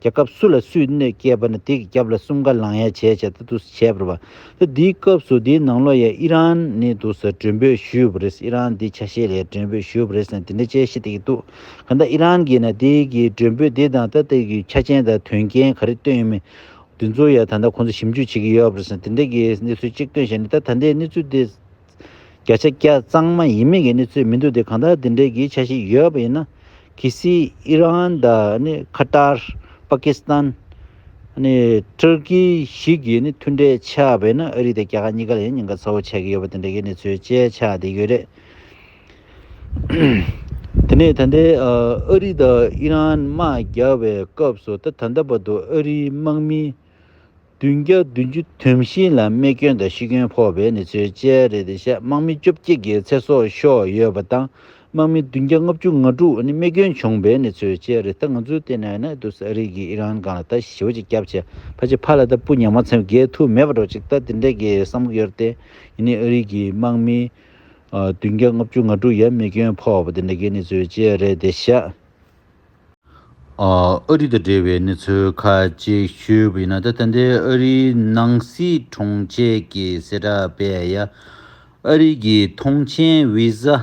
རྒྱལ་ཁབ་སུ་ལ་སུས་གནོད་སྐྱེལ་བ་ནི་དེ་གི་རྒྱབ་ལ་གསུམ་ཀ་ལངས་ཡ་བྱས་བྱས་ད་དུ་བྱས་པར་བ། ད་དེའི་སྐབས་སུ་དེའི་ནང་ལོ་ཡ་ཨི་རན་ནི་འདུག་ས་འགྲོན་འབོད་ཞུས་པ་རེད་ཨི་རན་དེའི་ཆ་ཤས་ལ་ཡ་འགྲོན་འབོད་ཞུས་པ་རེད་ཟེར་ན་དེ་འདྲ་དཔྱད་གཞི་དེ་གི་འདུག་ག་ད་ཨི་རན་གི་ན་དེ་གི་འགྲོན་འབོད་དེ་དང་ད་དེ་གི་ཆ་ཅན་དང་དོན་རྐྱེན་ག་རེ་བཏོན་ཡོད་མེད་དེ་ཚོ་ཡ་ད་ད་ཁོང་ཚོ་ཞིབ་འཇུག་བྱེད་ཀྱི་ཡོད་པ་རེད་ཟེར་ན་དེ་འདྲ་གི་གནས་ཚུལ་གཅིག་བཏོན་བྱས་ནས་ད་ད་ལྟའི་གནས་ཚུལ་དེ། བརྒྱ་ཆ་བརྒྱ་གཙང་མ་ཡིན་མིན་གྱི་གནས་ཚུལ་མི་འདུག་དེ་གང་ལྟར་དེ་འབྲེལ་གྱི་ཆ་ཤས་ཡོད་པ་ཡིན་ན་གྷི་སི། Iran། Qatar། Pakistan། Turkey། བཞི་གྱིས་མཐུན་འབྲེལ་ཆགས་པས་ན་ཨ་རི་དང་རྒྱ་གར་གཉིས་ཀ་ལ་ཡང་ཉེན་ཁ་ཚ་བོ་ཆགས་ཀྱི་ཡོད་པ་དེ་འབྲེལ་གྱི་གནས་ཚུལ་དཔྱད་ཆ་དེ་ཡོད་རེད། དེ་ནས་ད་ལྟའི་ཨ་རི་དང་ཨི་རན་དམག་རྒྱག་པའི་སྐབས་སུ་ད་ད་ལྟ་བར་དུ་ཨ་རིའི་དམག་མི། བདུན་བརྒྱ་བདུན་ཅུ་དུས་བཞི་ལ་རྨས་སྐྱོན་དང་ཤི་སྐྱོན་ཕོག་པའི་གནས་ཚུལ་བཅས་རེད་དེ་བཤད་དམག་མི་བཅོ་བརྒྱད་ཀྱི་ཚེ་སྲོག་ཤོར་ཡོད་པ་དང་དམག་མི་བདུན་བརྒྱ་ལྔ་བཅུ་ང་དྲུག་རྨས་སྐྱོན་བྱུང་པའི་གནས་ཚུལ་བཅས་རེད་ད་ང་ཚོའི་ལྟེ་གནས་ནི་ཏུར་སི་ཨ་རིག་གི་ཨི་རན་སྒང་ལ་ད་ཞི་བ་ཅིག་སྐྱབས་བྱས་ཕ་ཅིག་ཕ་ལ་ད་སྤུ་ཉག་མ་ཚེམ་བརྒལ་ཐུབ་མེད་པ་འགྲོ་ཅིག་ད་དེ་འདྲས་ཀྱི་བསམ་བློ་ཡོད་རེད་དེ་ཡིན་ནའི་ཨ་རིག་གི་དམག་མི་བདུན་བརྒྱ་ལྔ་བཅུ་ང་དྲུག་ཡ་རྨས་སྐྱོན་ཕོག་པ་དེ་འདྲས་ཀྱི་གནས་ཚུལ་བཅས་རེད་དེ་བཤད། ཨ་རི་དང་འབྲེལ་བའི་གནས་ཚུལ་ཁ་ཅིག་ཤོད་པ་ཡིན་ན་ད་ལྟ་འདིར་ཨ་རིའི་ནང་སྲིད་དྲུང་ཆེ་གི་གསལ་བསྒྲགས་སྤེལ་ཡ། ཨ་རི་གི་ཐོངས་མཆན་བི་ཟ།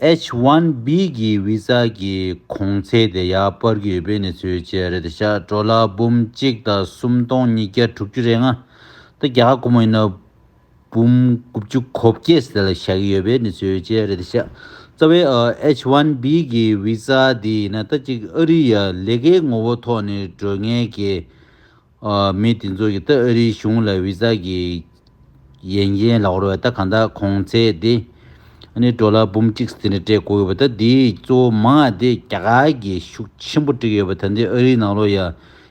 H1B། གི་བི་ཟ་གི་གོང་ཚད་དེ་ཡར་འཕར་གྱི་ཡོད་པའི་གནས་ཚུལ་བཅས་རེད་དེ་ཞག་གྲོ་ལ་འབུམ་གཅིག་དང་སུམ་སྟོང་ཉིས་བརྒྱ་དྲུག་ཅུ་རེ་ལྔ། ད་རྒྱ་གར་ཁོ་མོ་ཡིན་ན། འབུམ་དགུ་བཅུ་གོ་བརྒྱད་ཟེར་ལ་བཞག་གི་ཡོད་པའི་གནས་ཚུལ་བཅས་རེད་དེ། རྩ་བའི H1B གི Visa དེ་ཡིན་ན་ད་ཅིག་ཨ་རི་ཡ་ལས་ཀའི་ངོ་བོ་ཐོག་ནས་འགྲོ་ངེས་ཀྱི་མི་དེ་ཚོ་གིས་ད་ཨ་རིའི་གཞུང་ལ Visa གི་ཡན་ཅན་ལག་རོགས་ད་གང་དག་གོང་ཚད་དེ་ནི་འགྲོ་ལ་འབུམ་གཅིག་དེ་འདྲ་སྤྲད་དགོས་ཡོད་པ་ད་འདིའི་གཙོ་བོ་མང་དེ་རྒྱ་གར་གྱིས་ཤུགས་ཆེན་པོ་དཀྲིགས་ཡོད་པ་ད་འདི་ཨ་རིའི་ནང་ལོ་ཡ་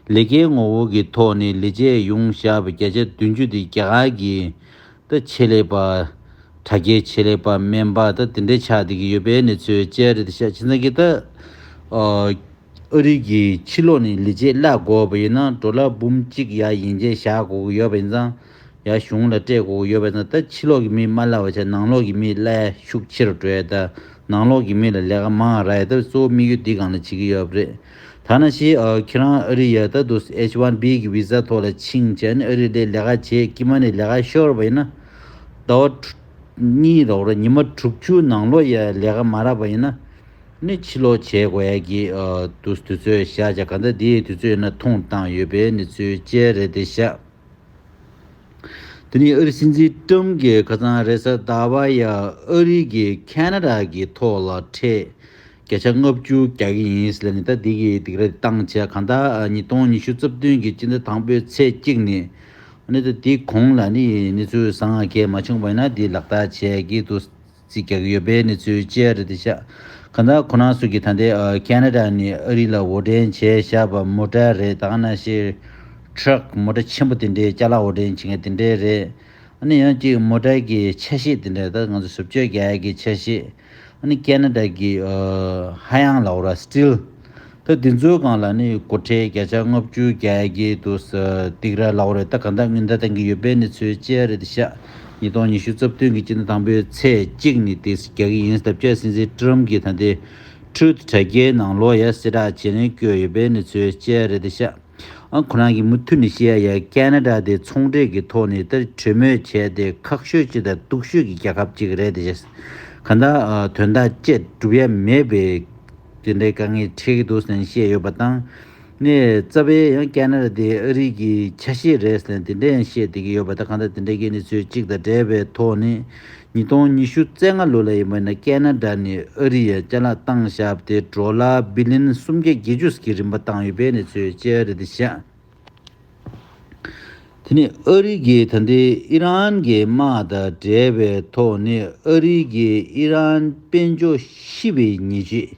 ལི་ཁེའི་ངོ་བོ་གི་ཐོག་ནས་ལི་ཅའི་ཡོངས་བཞག་པའི་བརྒྱ་ཆ་བདུན་ཅུ་དེ་རྒྱ་གར་གྱི་ད་ཆེད་ལས་པ། དྲ་རྒྱའི་ཆེད་ལས་པ་སྨན་པ་ད་དེ་འདྲས་ཆགས་བསྡད་ཀྱི་ཡོད་པའི་གནས་ཚུལ་བཅས་རེད་དེ་ཤ་ཆེ་ཚང་གི་ད་ཨ་རིག་གི་ཕྱི་ལོགས་ནས་ལི་ཅའི་བརླག་དགོས་པ་ཡིན་ན་འགྲོ་ལ་འབུམ་གཅིག་ཡ་ཡིན་རྗེས་བཞག་དགོས་ཀྱི་ཡོད་པ་ཡིན་ཙང་ཡ་གཞུང་ལ་སྤྲད་དགོས་ཀྱི་ཡོད་པ་ཡིན་ཙང་ད་ཕྱི་ལོགས་ཀྱི་མི་མ་བརླག་པ་ཆ་ནང་ལོགས་ཀྱི་མི་བརླའི་ཤུགས་ཆེ་རུ་འགྲོ་ཡ་ད་ནང་ལོགས་ཀྱི་མི་ལ་ལས་ཀ་མང་ར་ཡ་ད་གཙོ་བོ་དམིགས་ཡུལ་འདི་གང་ལ་བྱེད་ཀྱི་ཡོད་པ་རེད་ཐ་ན་ཞེས་ཁྱེད་རང་ཨ་རི་ཡལ་ད་དུ H1B གི Visa ཐོག་ལ་ཕྱིན་བྱས་ནས་ཨ་རི་ལས་ལས་ཀ་བྱས་ཀྱི་མ་ནས་ལས་ཀ་ཤོར་བ་ཡིན་ན། ཟླ་བ། གཉིས་རོགས་རེད་ཉི་མ་དྲུག་ཅུ་ནང་ལོ་ཡས་ལས་ཀ་མ་རག་པ་ཡིན་ན། ནི་ཕྱི་ལོག་བྱས་དགོས་ཡས་ཀྱི་འདུག་དུས་ཚོད་བཞག་བྱ་ག་འདྲ་དེའི་དུས་ཚོད་ཡིན་ན་ཐུང་བཏང་ཡོད་པའི་ནི་ཚུལ་བཅས་རེད་དེ་བཞག་དེ་ནི་ཨ་རི་སྲིད་འཛིན་ཀྲུམ་གྱི་ཁ་ཚང་རེད་ས་ད་བ་ཡས་ཨ་རི་གི Canada གི་ཐོག་ལ་ཁྲེས་སྐད་ཆ་ལྔ་བཅུ་རྒྱག་གི་ཡིན་ཟེར་ནས་ད་འདི་གི་འདི་ག་རེ་བཏང་བྱས་གང་ལྟར་ཉིས་སྟོང་ཉི་ཤུ་རྩ་བདུན་གྱི་སྤྱི་ཟླ་དང་པོའི་ཚེས་གཅིག་ནས་གནད་དོན་འདི་གོང་ལ་ནི་གནས་ཚུལ་བཟང་ང་གས་མ་བྱུང་བ་ཡིན་ན་འདི་ལག་བསྟར་བྱས་ཀྱི་འདུག་རྩིས་རྒྱག་གི་ཡོད་པའི་གནས་ཚུལ་བཅས་རེད་དེ་ཤག་གང་ལྟར་ཁོ་རང་སུ་གི་ད་འདི Canada ནས་ཨ་རི་ལ་འོར་འདྲེན་བྱས་བཞག་པ་མོ་ཏྲ་རེད་ད་གནའ་ཤེས Truck མོ་ཏྲ་ཆེན་པོ་དེ་འདྲའི་ལྕགས་ལ་འོར་འདྲེན་བྱེད་མཁན་དེ་འདྲའི་རེད་ཨ་ནི་ཡང་གཅིག་མོ་ཏྲ་གི་ཆ་ཤས་དེ་འདྲ་ད་ང་ཚོ་ཟུར་བཅོས་རྒྱག་གི་ཆ་ཤས། ཨ་ནི་ཀན་ན་ད་ཀི་ཧ་ཡང་ལའོ་ར Still ད་དེ་ཚོའི་སྒང་ལ་ནི་སྒོ་ཁྲལ་བརྒྱ་ཆ་ལྔ་བཅུ་བརྒྱ་གྱིས་འདུག་སྟིག་ར་ལའོ་རེད་ད་ག་འདའ་ངུས་འདའ་དང་གི་ཡོད་པའི་ནི་ཚོའི་ལྕེ་ཡ་རེད་དེ་ཤ་ཉིས་སྟོང་ཉི་ཤུ་རྩ་བདུན་གི་སྤྱི་ཟླ་དང་པོའི་ཚེས་གཅིག་ནི་དེ་རྒྱ་གི་ཡིན་སྟབས་ཀྱ་སྲིད་འཛིན Trump གི་ད་འདི Truth དྲ་རྒྱའི་ནང་ལོ་ཡ་སེ་དྲག་བྱེད་རན་བསྐྱོད་ཡོད་པའི་ནི་ཚོའི་ལྕེ་ཡ་རེད་དེ་ཤ། ཁོ་རང་གིས་མུ་མཐུད་ནས་ཤེས་ཡ་ཡ་ཀན་ན་ཀྲ་དེ་ཚོང་འབྲེལ་གྱི་ཐོག་ནས་དེར་གྲོས་མོལ་བྱས་ཏེ་ཁག་ཤོས་ཅིག་དང་སྟུག་ཤོས་ཀྱི་རྒྱལ་ཁབ་ཅིག་རེད་དེ་བྱས་གང་དག་དོན་དག་བཅས་སྒྲུབ་ཡ་མེད་པས་དེ་འདྲའི་དཀའ་ངལ་འཕྲད་ཀྱི་འདུག་ཟེར་ནས་བཤད་ཡོད་པ་དང། ནས་རྩ་བའི་ཡང་ཀན་ན་ཀྲ་དེ་ཨ་རིག་གི་ཆ་ཤས་རེད་ཟེར་ནས་དེ་འདྲ་ཡང་བཤད་བསྡད་ཀྱི་ཡོད་པ་དང་གང་དག་དེ་འདྲའི་གནས་ཚུལ་གཅིག་དང་འབྲེལ་བའི་ཐོག་ནས་ཉིས་སྟོང་ཉི་ཤུ་རྩེ་ལྔ་ལོ་ལ་ཡི་མུ་ན་ཀན་ན་ད་ནི་ཨ་རི་ཡའི་རྐྱ་ལག་སྟངས་ཞབས་ཏེ་གྲོ་ལ་བི་ལིན་སུམ་བརྒྱ་བརྒྱད་ཅུ་སྐྱི་རིམ་པ་བཏང་ཡོད་པའི་གནས་ཚུལ་བཅས་རེད་དེ་བཞིན་དེ་ནི་ཨ་རི་གིས་ད་ལྟའི་ཨི་རན་གྱི་དམག་དང་འབྲེལ་བའི་ཐོག་ནས་ཨ་རི་གིས་ཨི་རན་དཔལ་འབྱོ་ཤི་བའི་ཉེས་བྱེད་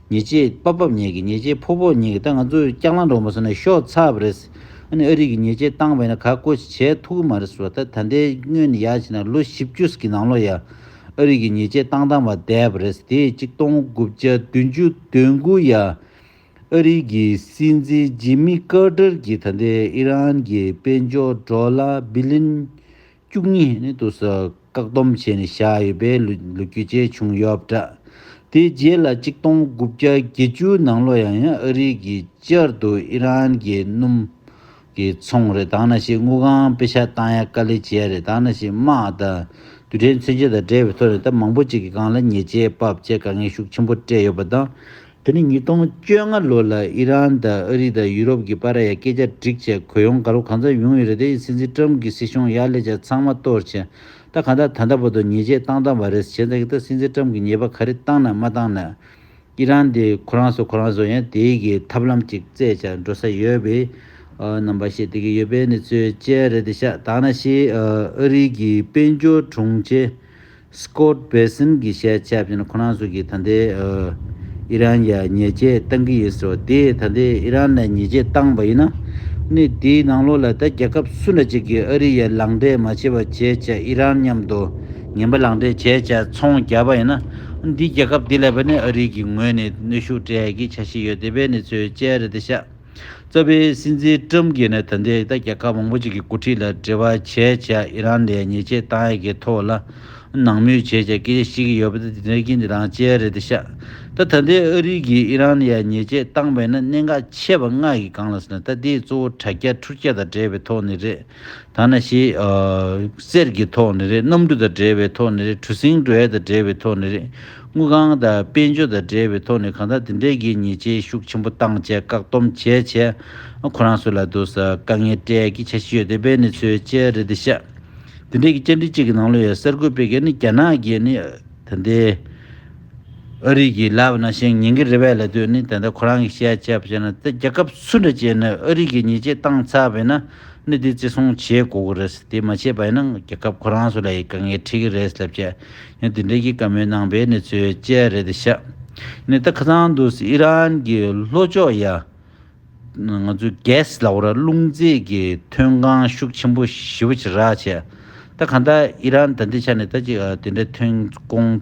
ཉེས་ཆེ་པ་བབས་ཉེས་ཀྱི་ཉེས་ཆེ་ཕོག་ཕོག་ཉེས་ཀྱི་ད་ང་ཚོ་སྐྱག་ལང་འགྲོ་མ་སོང་ན་ཤོག་ཚབ་རེད། ཨ་ནི་ཨ་རིག་གི་ཉེས་ཆེ་བཏང་བས་ན་ག་བཀོད་ཅིག་བྱས་ཐུག་གི་མ་རེད་བཟོ་ད་ད་ལྟའི་དངོས་ནི་ཡག་བྱས་ན་ལོ་བཞི་བཅུ་གི་ནང་ལོ་ཡ། ཨ་རིག་གི་ཉེས་ཆེ་བཏང་བཏང་བ་བསྡད་པ་རེད་དེ་གཅིག་སྟོང་དགུ་བརྒྱ་བདུན་ཅུ་དོན་དགུ་ཡ། ཨ་རིག་གི་སྲིད་འཛིན་ཇི་མི་ཀར་ཏར་གྱིས་ད་ལྟའི་ཨི་རན་གྱི་དཔལ་འབྱོར་འགྲོ་ལ་བི་ལིན། བཅུ་གཉིས་དུ་སུ་བཀག་སྡོམ་བྱས་ནས་བཞག་ཡོད་པའི་ལོ་རྒྱུས་བཅས་བྱུང་ཡོད་པ་འདྲ། དེའི་རྗེས་ལ་གཅིག་སྟོང་དགུ་བརྒྱ་བརྒྱད་ཅུ་ནང་ལོ་ཡང་ཡང་ཨ་རིག་གིས་བསྐྱར་དུ་ཨི་རན་གྱི་སྣུམ་གྱི་ཚོང་རེ་དང་ན་ཞིག་དངུལ་ཁང་དཔེ་ཆ་བཏང་ཡ་དཀའ་ལས་བྱས་ཡ་རེ་དང་ན་ཞིག་དམག་དང་དུད་སྦྲེལ་མཚོན་ཆ་དང་འབྲེལ་བའི་ཐོག་ནས་ད་མང་པོ་ཅིག་གི་སྒང་ལ་ཉེས་ཆད་དཔབ་བཅས་དཀའ་ངལ་ཤུགས་ཆེན་པོ་སྤྲད་ཡོད་པ་དང། དེ་ནི་ཉིས་སྟོང་བཅོ་ལྔ་ལོ་ལ་ཨི་རན་དང་ཨ་རི་དང་ཡུ་རོབ་ཀྱི་པཱ་ར་ཡ་སྐད་ཆ་སྒྲིག་བྱས་གོ་ཡོང་ག་རོ་གང་ཙམ་ཡོང་ཡོད་རེད་དེ་ཡི་སྲིད་འཛིན་ཀྲམ་གྱི་སྲིད་གཞུང་ཡག་ལས་ཅན་ཚང་མ་གཏོར་བྱས་ད་གང་ལྟར་ད་ལྟ་བར་དུ་ཉེས་ཆད་བཏང་བཏང་བ་རེད་བྱས་ད་གི་ད་སྲིད་འཛིན་ཀྲམ་གྱི་ཉེས་པ་ག་རེ་བཏང་ན་མ་བཏང་ན་ཨི་རན་དེ་ཁོ་རང་སོ་ཁོ་རང་སོ་ཡང་དེ་ཡི་གི་ཐབས་ལམ་ཅིག་བཙལ་བྱ་འགྲོ་ས་ཡོད་བེ་རྣམ་པ་ཤེས་དེ་གི་ཡོད་པའི་ནི་ཚོའི་དཔྱད་རེད་དེ་ཤ་ད་ང་ཤེས་ཨ་རི་གི་དཔལ་འབྱོར་དྲུང་ཆེ Scott Bessent གྱི་བཤད་བྱ་བཞིན་ཁོ་རང་སུ་གིས་ད་ལྟའི་ཨི་རན་ཡར་ཉེས་ཆད་བཏང་གི་ཡོད་ཟེར་བ་དེས་ད་ལྟའི་ཨི་རན་ལ་ཉེས་ཆད་བཏང་པ་ཡིན་ན། གནས་དེའི་ནང་ལོགས་ལ་ད་རྒྱལ་ཁབ་སུ་འདྲ་ཅིག་གིས་ཨ་རི་ཡར་ལངས་འབྲས་མ་བྱས་པ་བྱས་བྱས་ཨི་རན་མཉམ་དུ་ངན་པ་ལངས་འབྲས་བྱས་བྱས་ཚོང་རྒྱག་པ་ཡིན་ན། འདིས་རྒྱལ་ཁབ་དེ་ལ་བས་ནས་ཨ་རི་གི་ངོས་ནས་གནོད་ཤུགས་སྤྲད་ཀྱི་ཆ་ཤས་ཡོད་དེ་བས་ནས་ཚོས་བཅད་རེད་དེ་ཤག། རྩ་བའི་སྲིད་འཛིན་ཀྲུམ་གྱིས་ནི་ད་ལྟའི་ད་རྒྱལ་ཁབ་མང་པོ་ཅིག་གི་འགོ་ཁྲིད་ལ་འབྲེལ་བ་བྱས་བྱས་ཨི་རན་ལས་ཉེས་ཆད་བཏང་ཡས་ཀྱི་ཐོག་ལ་ནང་མོལ་བྱས་བྱས་སྐད་ཆ་བཤད་ཀྱི་ཡོད་པ་དེ་དེ་རྐྱེན་དེ་རང་བཅལ་རེད་དེ་ཤ་ད་ད་ལྟའི་ཨ་རིག་གིས་ཨི་རན་ལས་ཉེས་ཆད་བཏང་བས་ན་གནད་འགག་ཆེ་བ་ལྔ་ཡི་སྒང་ལ་ཟེར་ན་ད་དེའི་གཙོ་བོ་དྲ་རྒྱ་འཕྲུལ་རྒྱ་དང་འབྲེལ་བའི་ཐོག་ནས་རེད། ཐ་ན་ཞེས། གསེར་གྱི་ཐོག་ནི་རེད་གནམ་གྲུ་དང་འདྲེས་པའི་ཐོག་ནི་རེད་གྲུ་གཟིངས་གྲུ་ཧེ་དང་འདྲེས་པའི་ཐོག་ནི་རེད་དངུལ་ཁང་དང་དཔལ་འབྱོར་དང་འདྲེས་པའི་ཐོག་ནི་གང་དག་དེ་འདྲའི་གི་ཉེས་ཆད་ཤུགས་ཆེན་པོ་བཏང་བཅས་བཀག་སྡོམ་བྱས་བྱས། ཁོ་རང་སུ་ལ་འདུག་ས་དཀའ་ངལ་སྤྲད་ཀི་ཆ་ཤི་ཡོད་དེ་བས་ནི་ཚོས་བཅད་རེད་དེ་ཤ། དེ་འདྲའི་གི་བཅར་འདྲི་གཅིག་གི་ནང་ལོ་ཡོད་གསར་འགོད་པས་གི་ནི་རྒྱ་ནག་གི་ནི་དེ་འདའི་ཨ་རིག་གི་ལབ་ན་ཤེང་ཉན་གི་རེད་བས་ལ་དུས་ནི་དེ་འདའ་ཁོ་རང་གི་བཤད་བྱས་བྱས་ན་ཚེ་རྒྱ་ཁབ་སུ་འདྲ་བྱས་ནས་ཨ་རིག་གི་ཉེས་ཆད་བཏང་ཚར་བས་ན། གནད་དེ་བརྩི་སྲུང་བྱེད་དགོས་ཀྱི་རེད། དེ་མ་བྱས་པ་ཡིན་ན་རྒྱལ་ཁབ་ཁོ་རང་སུ་ལ་ཡི་དཀའ་ངལ་འཕྲད་ཀྱི་རེད་ལབ་ཀྱི། ཡང་དེ་འབྲེལ་གྱི་བཀའ་མོལ་གནང་པའི་གནས་ཚུལ་བཅས་རེད་དེ་ཤ་ནེ་ཏཱ་ཁ་ཚང་དུ་ཨི་རན་གྱི་ལྷོ་ཕྱོགས་ཡ། ང་ཚོའི gas ལ་བོ་ར་རླུང་རྫས་ཀྱི་ཐོན་ཁང་ཤུགས་ཆེན་པོ་ཞི་བ་ཆེ་རག་བྱས། ད་ག་འདྲ་ཨི་རན་ད་འདི་ཆ་ནེ་ཏཱ་ཅིག་དེ་འདྲའི་ཐོན་ཁོངས།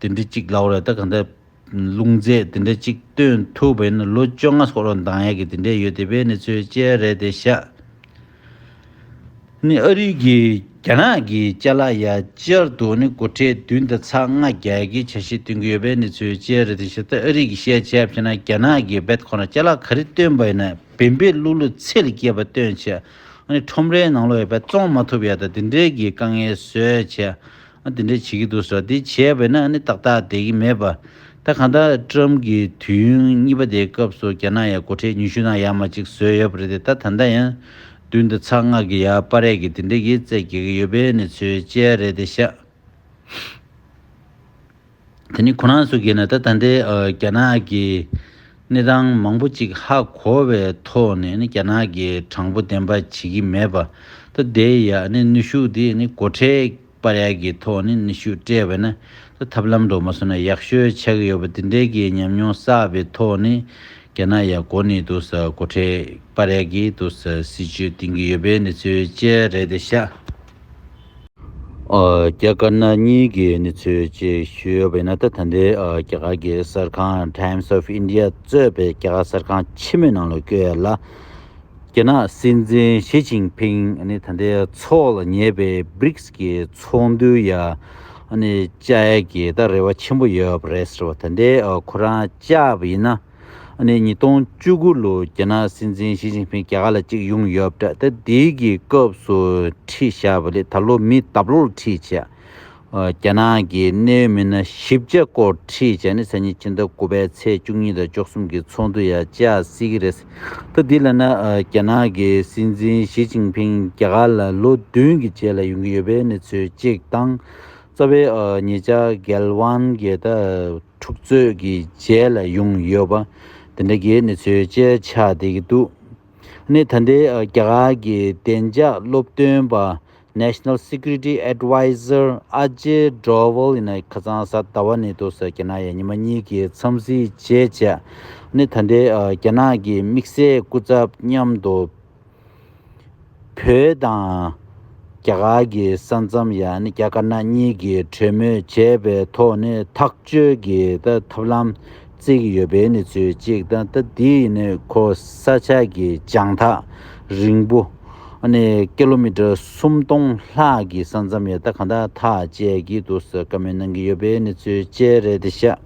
དེ་འདྲ་གཅིག་ལགས་རེད་ད་ག་འདྲ། ལུང་རྫས་དེ་འདྲ་གཅིག་སྟོན་ཐུབ་པ་ཡིན་ན་ལོ་བཅོ་ལྔ་སོགས་རོགས་འདང་ཡག་གི་དེ་འདྲས་ཡོད་དེ་བས་ནི་ཚོའི་དཔྱད་རེད་དེ་ཤ་ནི་ཨ་རིག་གི་རྒྱ་ནག་གི་དཔྱད་ལ་ཡ་ཅར་དུ་ནི་སྒོ་ཁྲལ་བདུན་དང་ཚ་ལྔ་རྒྱ་གི་ཆ་ཤས་སྟོན་གི་ཡོད་པས་ནི་ཚོའི་དཔྱད་རེད་དེ་ཤ་ད་ཨ་རིག་གི་ཤའི་ཆ་ཕྱེ་ན་རྒྱ་ནག་གི་བེད་ཁོ་ན་དཔྱད་ལ་ག་རི་སྟོན་པ་ཡིན་ན་བེན་བེད་གླུ་གླུ་ཚད་ལས་སྐྱེས་པ་སྟོན་ཆ་ཨ་ནི་ཁྲོམ་རའི་ནང་ལོ་བེད་བཙོང་མ་ཐུབ་ཡ་ད་དེ་འདྲས་གི་དཀའ་ངལ་བཟོས་ཆ་འདི་འདྲ་བྱེད་ཀྱི་འདུག་ཟེར་བ་དེ་བྱས་པས་ན་ནི་ཏག་ཏག་བསྡད་ཀྱི་མེད་པ། ད་གང་ལྟར་ཀྲུའམ་གྱི་དུས་ཡུན་གཉིས་པ་དེའི་སྐབས་སུ་རྒྱ་ནག་ཡང་སྒོ་ཁྲལ་ཉུང་ཤུས་ནང་ཡག་མ་ཅིག་བཟོས་ཡོད་པ་རེད་དེ་ད་ད་ལྟ་ཡང་བདུན་དང་ཚ་ལྔ་གི་ཡ་པ་རས་ཀྱི་དེ་འདྲ་ཡིས་རྩད་བགད་ཀྱི་ཡོད་པའི་ནི་ཚོའི་དཔྱད་རེད་དེ་ཤག། དེ་ནི་ཁོ་རང་སུ་གིས་ནི་ད་ལྟ་འདི་རྒྱ་ནག་གི་གནས་སྟངས་མང་པོ་ཅིག་ཧ་གོ་བའི་ཐོག་ནས་རྒྱ་ནག་གི་དྲང་པོ་བདེན་པ་བྱེད་ཀྱི་མེད་པ་ད་དེ་ཡ་ནི་ནུས་ཤུགས་དེ་ནི་སྒོ་ཁྲལ་པར་ཡ་གི་ཐོག་ནས་ནུས་ཤུགས་སྤྲད་པས་ན་ད་ཐབས་ལམ་འགྲོ་མ་སོང་ན་ཡག་ཤོས་ཆགས་ཀྱི་ཡོད་པ་དེ་འདྲའི་གི་ཉམས་མྱོང་བསགས་པའི་ཐོག་ནས་རྒྱ་ནག་ཡ་གོ་ནི་འདུག་སྒོ་ཁྲལ་པར་ཡ་གི་འདུག་སྲིད་ཇུས་བཏིང་གི་ཡོད་པའི་གནས་ཚུལ་བཅས་རེད་དེ་ཤ། རྒྱ་དཀར་ནག་གཉིས་ཀྱི་གནས་ཚུལ་བཅས་ཞུས་ཡོད་པ་ཡིན་ན་ད་ལྟ་འདིར་རྒྱ་གར་གྱི་གསར་ཁང Times of India གཙོས་པའི་རྒྱ་གར་གསར་ཁང་ཕྱི་མོའི་ནང་ལ་བསྐྱོད་ཡ་ལ། རྒྱ་ནག་སྲིད་འཛིན་ཞི་ཅིང་ཕིང་ནི་ད་ལྟའི་ཚོགས་ལ་ཉེ་བའི Brics གྱི་ཚོགས་འདུའི་ཡ་ནས་བཅར་ཡ་གྱི་ད་རེ་བ་ཆེན་པོ་ཡོད་པ་རེད་ཟེར་བ་ད་ལྟའི་ཁོ་རང་བཅར་བ་ཡིན་ན། ནས་ཉིས་སྟོང་བཅུ་དགུ་ལོའི་རྒྱ་ནག་སྲིད་འཛིན་ཞི་ཅིན་ཕིན་རྒྱ་གར་ལ་ཅིག་ཡོང་ཡོད་པ་འདྲ་ད་དེའི་གི་སྐབས་སུ་ཁྲིད་བཞག་པ་ལས་ད་ལོ་མི་ལྟ་བློར་ཁྲིད་བྱས། རྒྱ་ནག་གི་གནད་ཡོད་མི་སྣ་བཞི་བརྒྱ་སྐོར་ཁྲིད་བྱས་ནས་སང་ཉིན་ཕྱི་ཟླ་དགུ་པའི་ཚེས་བཅུ་གཉིས་དང་བཅུ་གསུམ་གི་ཚོགས་འདུ་ཡང་བྱ་སྲིད་ཀྱི་རེད། ད་དེ་ལ་ན་རྒྱ་ནག་གི་སྲིད་འཛིན་ཞི་ཅིན་ཕིན་རྒྱ་གར་ལ་ལོ་བདུན་གྱི་རྗེས་ལ་ཡོང་གི་ཡོད་པའི་གནས་ཚུལ་གཅིག་དང། རྩ་བའི་ཉེ་ཆར་རྒྱལ་དབང་གིས་ད། འཁྲུག་རྩོད་ཀྱི་རྗེས་ལ་ཡོང་ཡོད་པ་དེ་འདྲ་གྱི་གནས་ཚུལ་བཅས་ཆགས་བསྡད་ཀྱི་འདུག་གནས་ད་ལྟའི་རྒྱ་གར་གྱི་བདེ་འཇགས་སློབ་སྟོན་པ National Security Adviser Ajay Doval ཡིན་ན་ཁ་ཚང་གཟའ་ཟླ་བ་ནས་དུ་ས་རྒྱ་ནག་ཡ་ཉི་མ་གཉིས་ཀྱི་འཚམས་གཟིགས་བྱེད་ཆེད་གནས་ད་ལྟའི་རྒྱ་ནག་གི་དམིགས་བསལ་སྐུ་ཚབ་མཉམ་དུ། བོད་དང་རྒྱ་གར་གྱི་ས་མཚམས་ཡང་རྒྱ་དཀར་ནག་གཉིས་ཀྱིས་གྲོས་མོལ་བྱས་པའི་ཐོག་ནས་ཐག་གཅོད་ཀྱི་ཐབས་ལམ་བརྩིས་ཡོད་པའི་གནས་ཚུལ་གཅིག་དང་ད་ལྟའི་ནི་ཁོ་ས་ཆ་གི་བྱང་ཐག་རིང་པོ། ཀི་ལོ་མི་ཀྲི་སུམ་སྟོང་ལྷག་གི་ས་མཚམས་ཡང་ད་གང་ཐག་ཐག་བཅད་ཀྱི་འདུག་ཟེར་ཀ་མེད་གནང་གི་ཡོད་པའི་གནས་ཚུལ་བཅས་རེད་ཤག།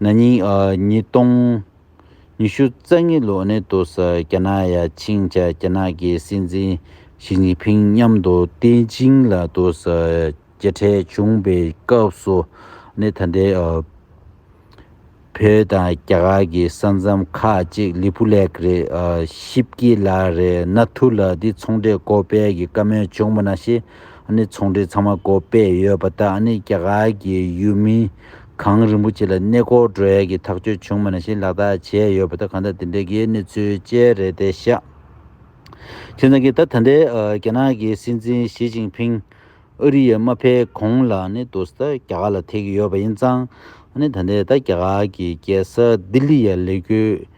ན་ནིང་ཉིས་སྟོང་ཉི་ཤུ་རྩ་གཉིས་ལོ་ནས་བཟུང་རྒྱ་ནག་ཡ་ཆིང་བཅས་རྒྱ་ནག་གི་སྲིད་འཛིན་ཞི་ཅིན་ཕིང་མཉམ་དུ་པེ་ཅིང་ལ་མཇལ་འཕྲད་བྱུང་པའི་སྐབས་སུ་ནི་ད་ལྟའི་བོད་དང་རྒྱ་གར་གྱི་ས་མཚམས་ཁག་ཅིག་ལི་པུ་ལེགས་རེད་ཤི་པཀི་ལ་རེད་ན་ཐུ་ལ་འདི་ཚོང་འབྲེལ་སྒོ་སྤེལ་གྱི་བཀའ་མོལ་བྱུང་པ་ན་ཤི་ནི་ཚོང་འབྲེལ་ཚང་མ་སྒོ་སྤེལ་ཡོད་པ་དག་ནི་རྒྱ་གར་གྱི་ཡུལ་མིའི་གངས་རིན་པོ་ཆེ་ལ་གནས་སྐོར་བགྲོ་ཡས་ཀྱི་ཐག་གཅོད་བྱུང་མེད་ན་བཞིན་ལག་བསྟར་བྱས་ཡོད་པ་དེ་གང་ལྟར་འདི་འདྲའི་དགེའི་གནས་ཚུལ་བཅས་རེད་དེ་ཤག་ཁྱེད་རང་གིས་ད་ད་ལྟའི་རྒྱ་ནག་གི་སྲིད་འཛིན་ཞི་ཅིང་ཕིང་ཨ་རི་ཡར་མ་ཕེབས་གོང་ལ་ནི་དུ་ས་རྒྱ་གར་ལ་ཐེག་གི་ཡོད་པ་ཡིན་ཙང་ནི་ད་ལྟའི་ད་རྒྱ་གར་གྱི་རྒྱལ་ས་ལྡི་ལི་ཡར་ལས་འཁྱུར་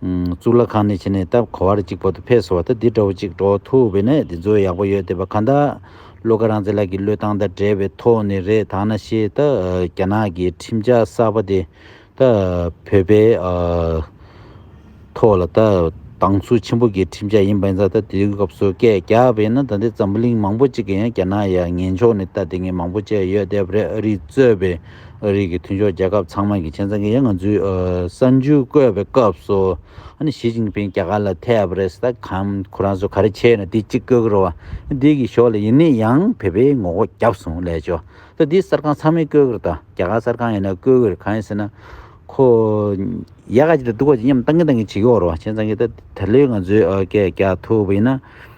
གཙུག་ལག་ཁང་ནས་ཕྱིན་ནས་སྟབས་གོ་བར་གཅིག་པོ་དུ་ཕེབས་སོང་བ་དང་འདི་འདྲ་བོ་གཅིག་འགྲོ་ཐུབ་བས་ན་འདི་ཚོ་ཡག་པོ་ཡོད་བསྡད་པ་གང་དག་བློ་དགའ་རང་བཙན་ལགས་ཀྱི་བློས་བཏང་དང་བྲལ་བའི་ཐོག་ནས་རེད་ད་ན་ཤེས་ད་རྒྱ་ནག་གི་ཁྲིམས་འཆར་གསར་པ་དེ་ད་བོད་པའི་ཐོག་ལ་ད་སྡང་ཟུག་ཆེན་པོ་གི་ཁྲིམས་འཆར་ཡིན་པ་ཡིན་ཙང་ད་དེའི་སྐབས་སུ་སྐད་རྒྱག་པ་ཡིན་ན་ད་འདི་འཛམ་བུ་གླིང་མང་པོ་གཅིག་གི་ཡང་རྒྱ་ནག་ཡ་ངན་ཕྱོགས་ནས་ད་དེ་ངན་མང་པོ་བྱས་ཡོད་བསྡད་པ་རེད་ཨ་རིས་གཙོས་པའི། ཨ་རིའི་གི་མཐུན་ཕྱོགས་རྒྱལ་ཁབ་ཚང་མ་གི་ཆེན་ཚང་གི་ཡ་ང་ཚུའི་གསར་འཇུས་བཀོད་པའི་སྐབས་སུ་ཨ་ནི་ཞི་ཅིང་ཕིང་རྒྱ་གར་ལ་ཐེ་ཨབ་རེས་ད་གམ་ཁོ་རང་ཚོ་ག་རེ་བྱས་ན་དེ་གཅིག་བཀོད་གི་རོ་བ་འདི་གི་ཞོག་ལ་ཡིན་ནི་ཡང་བོད་པའི་ངོ་སྒོ་རྒྱབ་སོང་ལས་ཆོ་ད་དེ་གསར་ཁང་ཚང་མས་བཀོད་གི་རེ་ད་རྒྱ་གར་གསར་ཁང་ཡིན་ན་བཀོད་གི་རེ་གང་ཡིན་ཟེར་ན་ཁོ་ཡ་ག་ཅིག་ད་སྡུག་ག་ཅིག་མཉམ་བཏང་གི་བཏང་གི་བྱེད་གི་འོ་རོ་བ་ཆེན་ཚང་གི་ད་ད་ལོའི་ང་ཚོའི་གས་རྒྱ་ཐུ་བ་ཡིན་ན།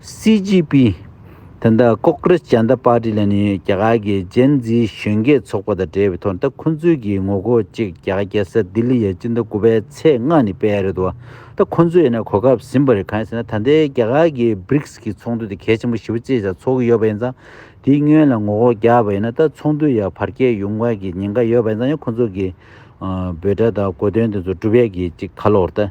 སི་ཇི་པི། ད་ལྟ་ཀོག་ཀྲེས་ཇཱན་ཏཱ་པཱ་ཏི་ལ་ནི་རྒྱ་གར་གྱི་ཇན་ཛིའི་གཞོན་སྐྱེས་ཚོགས་པ་དང་འབྲེལ་བའི་ཐོག་ད་ཁོ་ཚོའི་གྱི་ངོ་རྒོལ་ཅིག་རྒྱ་གར་རྒྱལ་ས་ལྡི་ལི་ཡའི་སྤྱི་ཟླ་དགུ་པའི་ཚེས་ལྔ་ནས་སྤེལ་རེད་འདུག་ད་ཁོ་ཚོས་ཡིན་ན་གོ་སྐབས་ཟིན་པ་རེད་གང་ཡིན་ཟེར་ན་ད་ལྟའི་རྒྱ་གར་གྱི Brics གྱི་ཚོགས་འདུ་དེ་གལ་ཆེན་པོ་བཞི་བ་བཅས་ཀྱང་ཚོགས་ཀྱི་ཡོད་པ་ཡིན་ཙང་དེའི་སྔོན་ལ་ངོ་རྒོལ་རྒྱག་པ་ཡིན་ན་ད་ཚོགས་འདུ་ཡང་བར་བསྐྱལ་ཡོང་དགོས་ཀྱི་ཉེན་ཁ་ཡོད་པ་ཡིན་ཙང་ཡང་ཁོ་ཚོ་གྱི་འབོད་སྒྲ་དང་གོ་དོན་དེ་ཚོ་སྒྲུབ་ཡས་ཀྱི་ཅིག་ཁ་ལོ་བར་ད།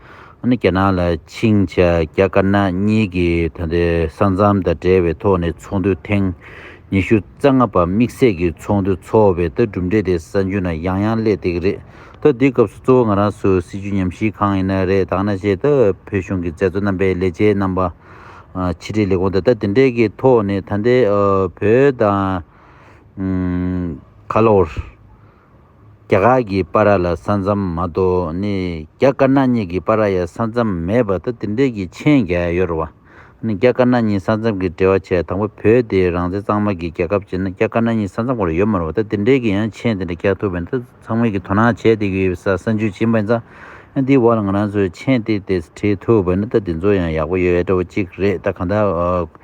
ནི་རྒྱ་ནག་ལ་ཆིངས་བྱ་རྒྱ་དཀར་ནག་གཉིས་ཀྱི་ད་ལྟའི་ས་མཚམས་དང་འབྲེལ་བའི་ཐོག་ནས་ཚོགས་འདུ་ཐེངས་ཉི་ཤུ་རྩ་ལྔ་པ་དམིགས་བསལ་གྱི་ཚོགས་འདུ་འཚོགས་པའི་ལྟ་གྲུབ་འབྲས་དེ་ས་འཇུ་ན་ཡང་ཡང་ཀླད་སྟེགས་རེད་ད་འདི་སྐབས་སུ་གཙོ་བོ་ང་རང་ཚོའི་སྲིད་ཇུས་ཉམས་ཞིབ་གང་ཡིན་ན་རེད་དག་ན་བྱས་ད་བོད་གཞུང་གི་མཛད་གཙོ་རྣམ་པའི་ལས་བྱེད་རྣམ་པ་ཕྱི་དྲིལ་ལས་ཁུངས་ད་ལྟ་དེ་འདྲའི་གི་ཐོག་ནས་ད་ལྟའི་བོད་དང། ཁ་ལོར། རྒྱ་གར་གྱི་པ་ར་ལ་ས་མཚམས་མ་གཏོགས་ནི་རྒྱ་དཀར་ནག་གཉིས་ཀྱི་པ་ར་ཡ་ས་མཚམས་མེད་པ་ད་དེ་འདྲའི་གྱི་མཆན་རྒྱ་ཡོར་བ་ནི་རྒྱ་དཀར་ནག་གཉིས་ས་མཚམས་གྱི་འབྲེལ་བ་ཆད་དང་པོ་བོད་དེ་རང་བཙན་གཙང་མ་གྱི་རྒྱལ་ཁབ་བྱེད་ན་རྒྱ་དཀར་ནག་གཉིས་ས་མཚམས་གོར་ཡོད་མ་རུང་བ་ད་དེ་འདྲའི་གྱི་ཡང་མཆན་དེ་འདྲ་རྒྱག་ཐུབ་པའི་ནི་ད་ཚང་མས་གྱི་དོ་སྣང་བྱས་དེ་གྱི་ཡོད་པའི་ས་མཆན་བྱིན་པ་ཡིན་ཙང་འདིའི་འོག་ལ་ང་རང་ཚོས་མཆན་དེ་དེ་བྲིས་ཐུབ་པ་ནི་ད་དེ་ཚོ་ཡང་ཡག་པོ་ཡོད་འདྲ་བོ་གཅིག་རེད་ད་གང་ལྟར་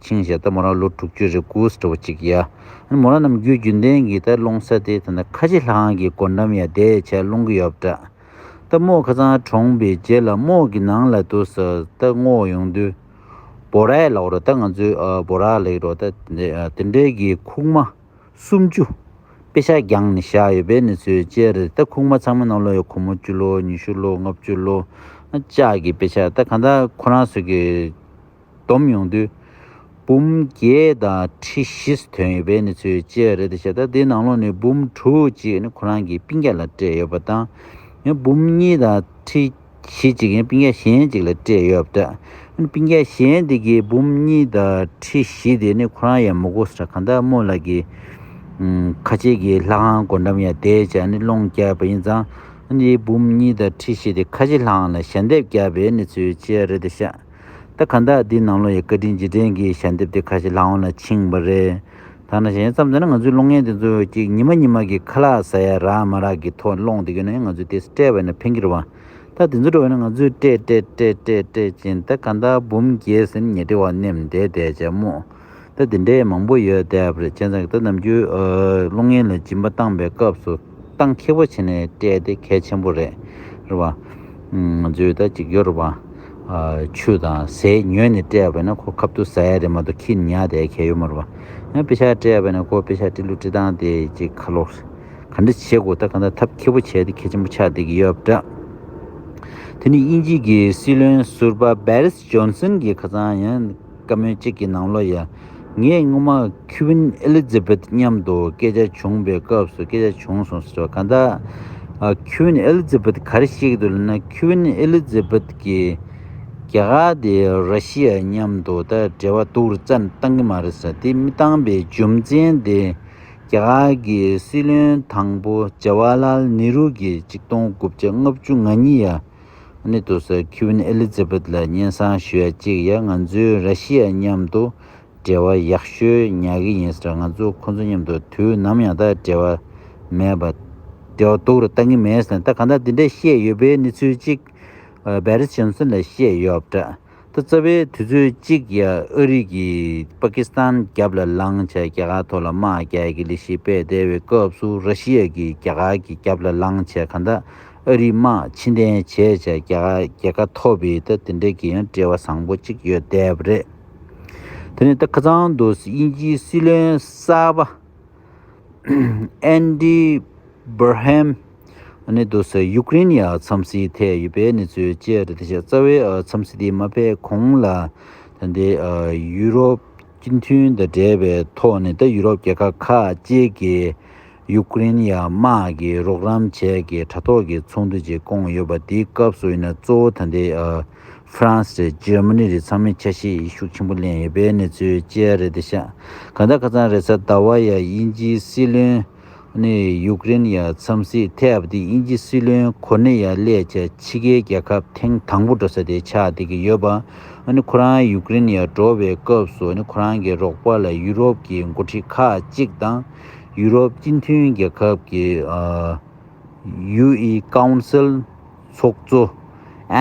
ཆིང་བཞེས་ད་མོ་རང་ལོ་དྲུག་ཅུ་རེ་དགུ་སྤྲོ་བོ་གཅིག་ཡ། ཨ་ནི་མོ་རང་ནམ་རྒྱུན་རྒྱུན་ལྡན་གྱི་ད་སློང་ས་དེ་ད་ནི་ཁ་ཆེ་ལྷང་གི་སྒོ་འགྲམ་ཡ་དེ་ཆ་སློང་གི་ཡོད་པ་འདྲ། ད་མོ་ཁ་ཚང་གྲོངས་པའི་རྗེས་ལ་རྨོ་གི་ནང་ལ་དུ་ས་ད་སྔོ་ཡོང་དུས། བོ་ར་ཡ་ལགས་རོ་ད་ང་ཚོའི་བོ་ར་ལེགས་རོ་ད་དེ་འདྲའི་གི་ཁུག་མ་སུམ་ཅུ་དཔེ་ཤག་རྒྱང་ནི་བཞག་ཡོད་པའི་ནི་ཚོའི་དཔྱད་རེད་ད་ཁུག་མ་ཚང་མ་ནང་ལོ་ཡ་གོ་མོ་བཅུ་ལོ་ཉི་ཤུ་ལོ་ལྔ་བཅུ་ལོ་ཅག་གི་དཔེ་ཤག་ད་གང་ད་ཁོ་རང་ཚོ་གི། བསྡོམས་ཡོང་དུས། འབུམ་བརྒྱད་དང་ཁྲི་བཞི་ཐོན་ཡོད་པའི་གནས་ཚུལ་བཅས་རེད་ཞེ་ད་དེའི་ནང་ལོགས་ནས་འབུམ་དྲུག་ཅིག་ཁོ་རང་གི་པིང་ཀ་ལ་སྤྲད་ཡོད་པ་དང། འབུམ་གཉིས་དང་ཁྲི་བཞི་ཅིག་པིང་ཀ་གཞན་ཅིག་ལ་སྤྲད་ཡོད་པ། པིང་ཀ་གཞན་དེ་གའི་འབུམ་གཉིས་དང་ཁྲི་བཞི་དེ་ནི་ཁོ་རང་ཡང་མོ་གོ་ས་ཀྲ་གྷན་དྷ་རྨོ་ལགས་ཀྱི་ཁ་ཆེ་གི་ལྷ་ཁང་སྒོ་འགྲམ་ཡང་དེའི་ཆ་ནས་སློང་བསྐྱལ་བ་ཡིན་ཙང། འབུམ་གཉིས་དང་ཁྲི་བཞི་དེ་ཁ་ཆེ་ལྷ་ཁང་ལ་ཞལ་འདེབས་བསྐྱལ་བའི་གནས་ཚུལ་བཅས་རེད་ཤག། ད་ག་འདྲ་འདི་ནང་ལོ་ཡི་བཀའ་དྲིན་རྗེས་དྲན་གྱི་ཞལ་འདེབས་དེ་ཁ་ཞེ་ལྷག་འོང་ལ་འཆིང་བ་རེད། ཐ་ན་གཞན་བརྩམས་ཙམ་ན་ང་ཚོའི་གློག་བརྙན་དེ་ཚོ་གཅིག་ཉི་མ་ཉི་མ་གི་ཁ་ལག་ཟ་ཡ་རག་མ་རག་གི་ཐོག་སློང་དེ་ཡོད་ན་ཡང་ང་ཚོས་དེ་སྤྲད་བས་ན་ཕན་གྱི་རེད་བ། ད་དེ་ཚོ་འགྲོ་བས་ན་ང་ཚོས་སྤྲད་སྤྲད་སྤྲད་སྤྲད་སྤྲད་ཅིང་ད་ག་འདྲ་འབུམ་རྒྱལ་སེམས་ཉེ་དྲི་བ་སྣེམས་བསྡད་བསྡད་བྱ་མོ། རྟ་དེ་འདྲའི་མང་པོ་ཡོད་དེ་ཨབ་རི་ཅན་ཚང་གི་རྟ་ནམ་རྒྱུན་གློག་བརྙན་ལ་སྦྱིན་པ་བཏང་པའི་སྐབས་སུ་སྟངས་འཁེལ་པོ་བྱས་ནས་སྤྲད་དེ་གལ་ཆེན་པོ་རེད། རེད་བ། ང་ཚོའི་ད་གཅིག་གྱུར་བ། ཆུ་དང་ཟས་ཉོས་ནས་སྤྲད་པས་ན་ཁོ་ཁབ་ཏུ་ཟ་ཡ་རེད་མ་གཏོགས་ཁྱི་ཉག་དེ་གལ་ཡོད་མ་རེད་བ། ཡང་དཔེ་ཆ་སྤྲད་པས་ན་ཁོ་དཔེ་ཆ་སྤྲི་ལུ་སྤྲི་སྟངས་དེ་ཅིག་ཁ་ལོ། ག་འདྲ་བྱེད་དགོས་ད་ག་འདྲ་ཐབས་འཁེལ་པོ་བྱས་ཏེ་གལ་ཆེན་པོ་ཆགས་བསྡད་ཀྱི་ཡོད་པ་འདྲ། དེ་ནི་དབྱིན་ཇིས་ཀྱི་སྲིད་བློན་ཟུར་པ་བེ་རི། ཇོན་སན་གྱིས་ཁ་ཚང་ཡང་བཀའ་མོལ་གཅིག་གི་ནང་ལོ་ཡ་ངས་སྔོན་མ་ཁི་ཝིན་ཨེ་ལི་ཛི་བེད་མཉམ་དུ་སྐད་ཆ་བྱུང་པའི་སྐབས་སུ་སྐད་ཆ་བྱུང་སོང་ཟེར་བ་ག་ད་ཁི་ཝིན་ཨེ་ལི་ཛི་བེད་ག་རེ་ཞིག་དུ་ལེན་ན་ཁི་ཝིན་ཨེ་ལི་ཛི་བེད་ཀྱིས་རྒྱ་གར་དེ་ར་ཤི་ཡ་མཉམ་དུ་ད་འབྲེལ་བ་དུག་རྩ་བཏང་གི་མ་རེད་ཟེར་དེ་མི་བཏང་པའི་རྒྱུ་མཚན་དེ་རྒྱ་གར་གྱི་སྲིད་བློན་དང་པོ་ཇེ་བྷ་ལ་ལ་ནི་རུ་གྱིས་གཅིག་སྟོང་དགུ་བརྒྱ་ལྔ་བཅུ་ང་གཉིས་ཡ། གནས་དུ་ཟེར Queen Elizabeth ལ་སྙན་གསང་ཞུ་ཡ་གཅིག་ཡ་ང་ཚོའི་ར་ཤི་ཡ་མཉམ་དུ་འབྲེལ་བ་ཡག་ཤོས་ཉ་གི་ཡིན་ཟེར་ང་ཚོ་ཁོང་ཚོ་མཉམ་དུ་དུས་ནམ་ཡང་ད་འབྲེལ་བ་མེད་པ་འབྲེལ་བ་འདུག་ར་ལྟ་ངི་མེད་ཟེར་ད་གང་ལྟར་འདི་འདྲ་བཤད་ཡོད་པའི་གནས་ཚུལ་གཅིག Paris Johnson ལ་བཤད་ཡོད་འདྲ་ད་རྩ་བའི་དུས་ཚོད་གཅིག་ཡ་ཨ་རིག་གིས་པ་ཀི་སི་ཐན་རྒྱབ་ལ་ལངས་བྱས་རྒྱ་གར་ཐོག་ལ་དམག་རྒྱལ་གྱི་ལི་ཤི་དཔལ་བསྡད་བའི་སྐབས་སུ་ར་ཤི་ཡ་གིས་རྒྱ་གར་གྱི་རྒྱབ་ལ་ལངས་བྱས་ག་ད་ཨ་རིག་དམག་ཕྱི་འཐེན་བྱས་བྱས་རྒྱ་གར་རྒྱལ་ཁ་ཐོབ་བི་ད་དེ་འདྲ་གི་ཡང་བྲེལ་བ་བཟང་པོ་གཅིག་ཡོད་བསྡད་པ་རེད་དེ་ནས་ད་ཁ་ཚང་དུ་དབྱིན་ཇིའི་སྲིད་བློན་གསར་པ། Andy Burnham། ནས་བསྡུ་སའི་ཡུཀ་རེན་ཡའི་འཚམས་གཟིགས་ཐད་ཡོད་པའི་གནས་ཚུལ་བཅས་རེད། དེ་བཞིན་རྩ་བའི་འཚམས་གཟིགས་དེ་མ་ཕེབས་གོང་ལ། ད་ལྟའི་ཡུ་རོབ་སྤྱི་མཐུན་དང་འབྲེལ་བའི་ཐོག་ནས་ད་ཡུ་རོབ་རྒྱལ་ཁབ་ཁག་བཅས་ཀྱིས་ཡུཀ་རེན་ཡའི་དམག་གི་རོགས་རམ་བྱས་ཀྱི་དྲ་ཐོག་གི་ཚོགས་འདུ་ཅིག་བསྐོངས་ཡོད་པ་དེའི་སྐབས་སུ་ཡིན་ན་གཙོ་བོ་ད་ལྟའི་ཧྥ་རན་སི་རེད་ཇར་མ་ནི་རེད་ཚང་མས་ཆ་ཤས་ཤུགས་ཆེན་པོ་ལེན་ཡོད་པས་གནས་ཚུལ་བཅས་རེད་དེ་ཤ་ག་ད་ག་ཚང་རེད་ས་ད་བ་ཡ་དབྱིན་ཇིའི་སྲིད་བློན་ནི་ཡུཀ་རེན་ཡ་འཚམས་སི་ཐེ་བ་དེ་དབྱིན་ཇི་སྲིད་བློན་གོ་ནི་ཡ་ལས་ཆ་ཕྱི་གའི་རྒྱལ་ཁབ་ཐེངས་དང་པོ་འགྲོ་ས་དེ་ཆ་དེ་གི་ཡོད་པ་ནི་ཁོ་རང་ཡུཀ་རེན་ཡ་འགྲོ་བའི་སྐབས་སུ་ནི་ཁོ་རང་གི་རོགས་པ་ལ་ཡུ་རོབ་ཀྱི་འགོ་ཁྲིད་ཁག་ཅིག་དང་ཡུ་རོབ་སྤྱི་མཐུན་རྒྱལ་ཁབ་ཀྱི་ཡུ་ཨི་ཀའུ་ཨུན་སིལ། ཚོགས་གཙོ།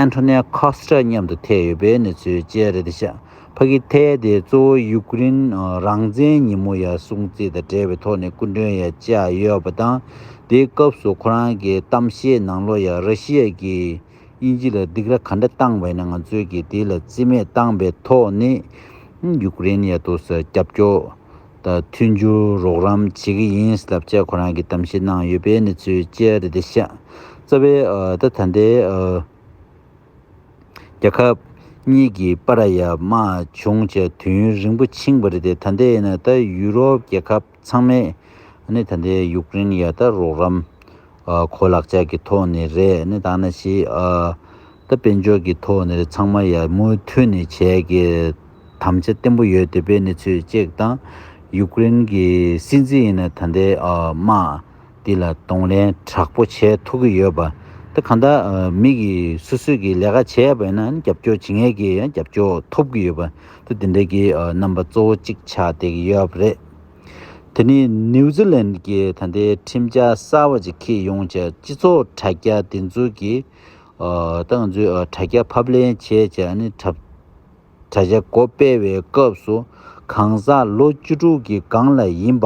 Antonio Costa། མཉམ་དུ་ཐེ་ཡོད་པའི་གནས་ཚུལ་བཅས་རེད། ཕ་ཁི་ཐེ་དེ་གཙོ་བོ་ཡུ་ཀེ་རིན་རང་བཙན་ཉིན་མོ་ཡར་སྲུང་བརྩི་དང་འབྲེལ་བའི་ཐོག་ནས་སྐུ་མགྲོན་ཡར་བཅར་ཡོད་པ་དང། དེའི་སྐབས་སུ་ཁོ་རང་གི་གཏམ་བཤད་ནང་ལོ་ཡར་ར་ཤི་ཡ་ཀྱིས་དབྱིན་ཇི་ལ་སྡིགས་ར་ག་འདྲ་བཏང་བ་ཡིན་ང་ཚོས་ཀྱིས་དེ་ལ་བརྩི་མེད་བཏང་པའི་ཐོག་ནས་ཡུ་ཀེ་རིན་ཡར་ཐོག་སར་རྒྱབ་སྐྱོར་དང་མཐུན་རྒྱུར་རོགས་རམ་བྱེད་ཀྱི་ཡིན་ཞེས་བསླབ་བྱ་ཁོ་རང་གིས་གཏམ་བཤད་གནང་ཡོད་པའི་གནས་ཚུལ་བཅས་རེ་རེ་བཤད། རྩ་བའི་ད་ད་ལྟའི་རྒྱལ་ཁབ་གཉིས་ཀྱི་པ་ར་ཡ་དམག་བྱུང་བཅས་དུས་ཡུན་རིང་པོ་ཕྱིན་པ་རེད་དེ་ད་ལྟའི་ཡིན་ན་ད་ཡུ་རོབ་རྒྱལ་ཁབ་ཚང་མས་ནི་ད་ལྟའི་ཡུཀ་རེན་ཡ་ད་རོགས་རམ་གོ་ལག་བཅས་ཀྱི་ཐོག་ནས་རེད་ནི་ད་ནི་ཞེས་ད་དཔལ་འབྱོར་གྱི་ཐོག་ནས་རེད་ཚང་མ་ཡ་མུ་མཐུད་ནས་བྱས་ཀྱི་དམ་བཅའ་བརྟན་པོ་ཡོད་འདོད་པའི་གནས་ཚུལ་བཅས་དང། ཡུག་ཀེ་རེན་གྱི་སྲིད་འཛིན་ཡིན་ན་ད་ལྟའི་དམག་འདི་ལ་གདོང་ལེན་དྲག་པོ་བྱས་ཐུབ་ཀྱི་ཡོད་པ། དེ་གང་ལྟར་མིག་གིས་སུས་སུས་ཀྱིས་ལས་ཀ་བྱས་ཡོད་པ་ཡིན་ན་རྒྱབ་སྐྱོར་བྱེད་ངེས་ཀྱི་རྒྱབ་སྐྱོར་ཐོབ་ཀྱི་ཡོད་པ། དེ་འདི་འདྲའི་གི་རྣམ་པ་གཙོ་བོ་གཅིག་ཆགས་བསྡད་ཀྱི་ཡོད་པ་རེད། དེ་ནི་ནིའུ་ཛི་ལན་གྱི་ད་ལྟའི་ཁྲིམས་འཆར་གསར་བ་ཅིག་གིས་ཡོངས་ཀྱི་སྤྱི་ཚོགས་དྲ་རྒྱ་བདེན་འཛུགས་ཀྱིས་ད་ང་ཚོའི་དྲ་རྒྱ་ཕབ་ལེན་བྱེད་ཅེས་ཨ་ནི་དྲ་བྱ་བྱ་སྒོ་སྤེལ་བའི་སྐབས་སུ་གང་ཟག་ལོ་བཅུ་དྲུག་གི་སྒང་ལ་ཡིན་པ་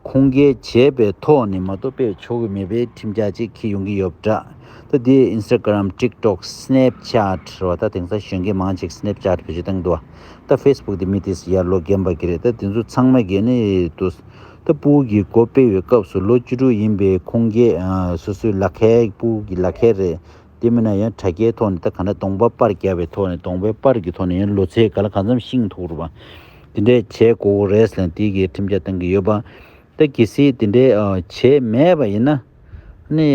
ཁུངས་སྐྱེལ་བྱས་པའི་ཐོག་ནས་མ་གཏོགས་སྤེལ་ཆོག་གི་མེད་པའི་ཁྲིམས་ཆ་ཅིག་ཁྱེར་ཡོང་གི་ཡོད་འདྲ། ད་དེ Instagram TikTok Snapchat རེད་བ་ད་དེང་སང་གཞོན་སྐྱེས་མང་ཅིག Snapchat བེད་སྤྱོད་བཏང་གི་འདུག་བ་ད Facebook དེ་མི་དེ་སི་ཡར་ལོ་རྒན་པ་གི་རེད་ད་དེ་ཚོ་ཚང་མ་གི་ནི་དུ་ད་སྤུའུ་གི་སྒོ་སྤེལ་བའི་སྐབས་སུ་ལོ་བཅུ་དྲུག་ཡིན་པའི་ཁུངས་སྐྱེལ་སུ་སུའི་ལག་ཁལ་སྤུའུ་གི་ལག་ཁལ་རེད། དེ་མིན་ན་ཡང་དྲ་རྒྱའི་ཐོག་ནས་ད་ག་འདྲ་གདོང་པ་པར་བརྒྱབ་པའི་ཐོག་ནས་གདོང་པའི་པར་གྱི་ཐོག་ནས་ཡང་ལོ་ཚད་ག་ལ་ག་འཚམས་ཤིང་འཐུག་རུ་བ། དེ་འདྲས་བྱས་དགོས་གོ་རེད་ལན་དེ་གི་ཁྲིམས་ཆ་གཏང་གི་ཡོད་པ། ད་གི་སི་དེ་འདྲས་བྱས་མེད་པ་ཡིན་ན། ནི་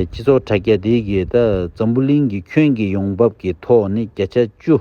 སྤྱི་ཚོགས་དྲ་རྒྱ་དེ་གི་ད་འཛམ་བུ་གླིང་གི་ཁྱོན་གྱི་ཡོང་འབབ་གི་ཐོག་ནི་བརྒྱ་ཆ་བཅུ།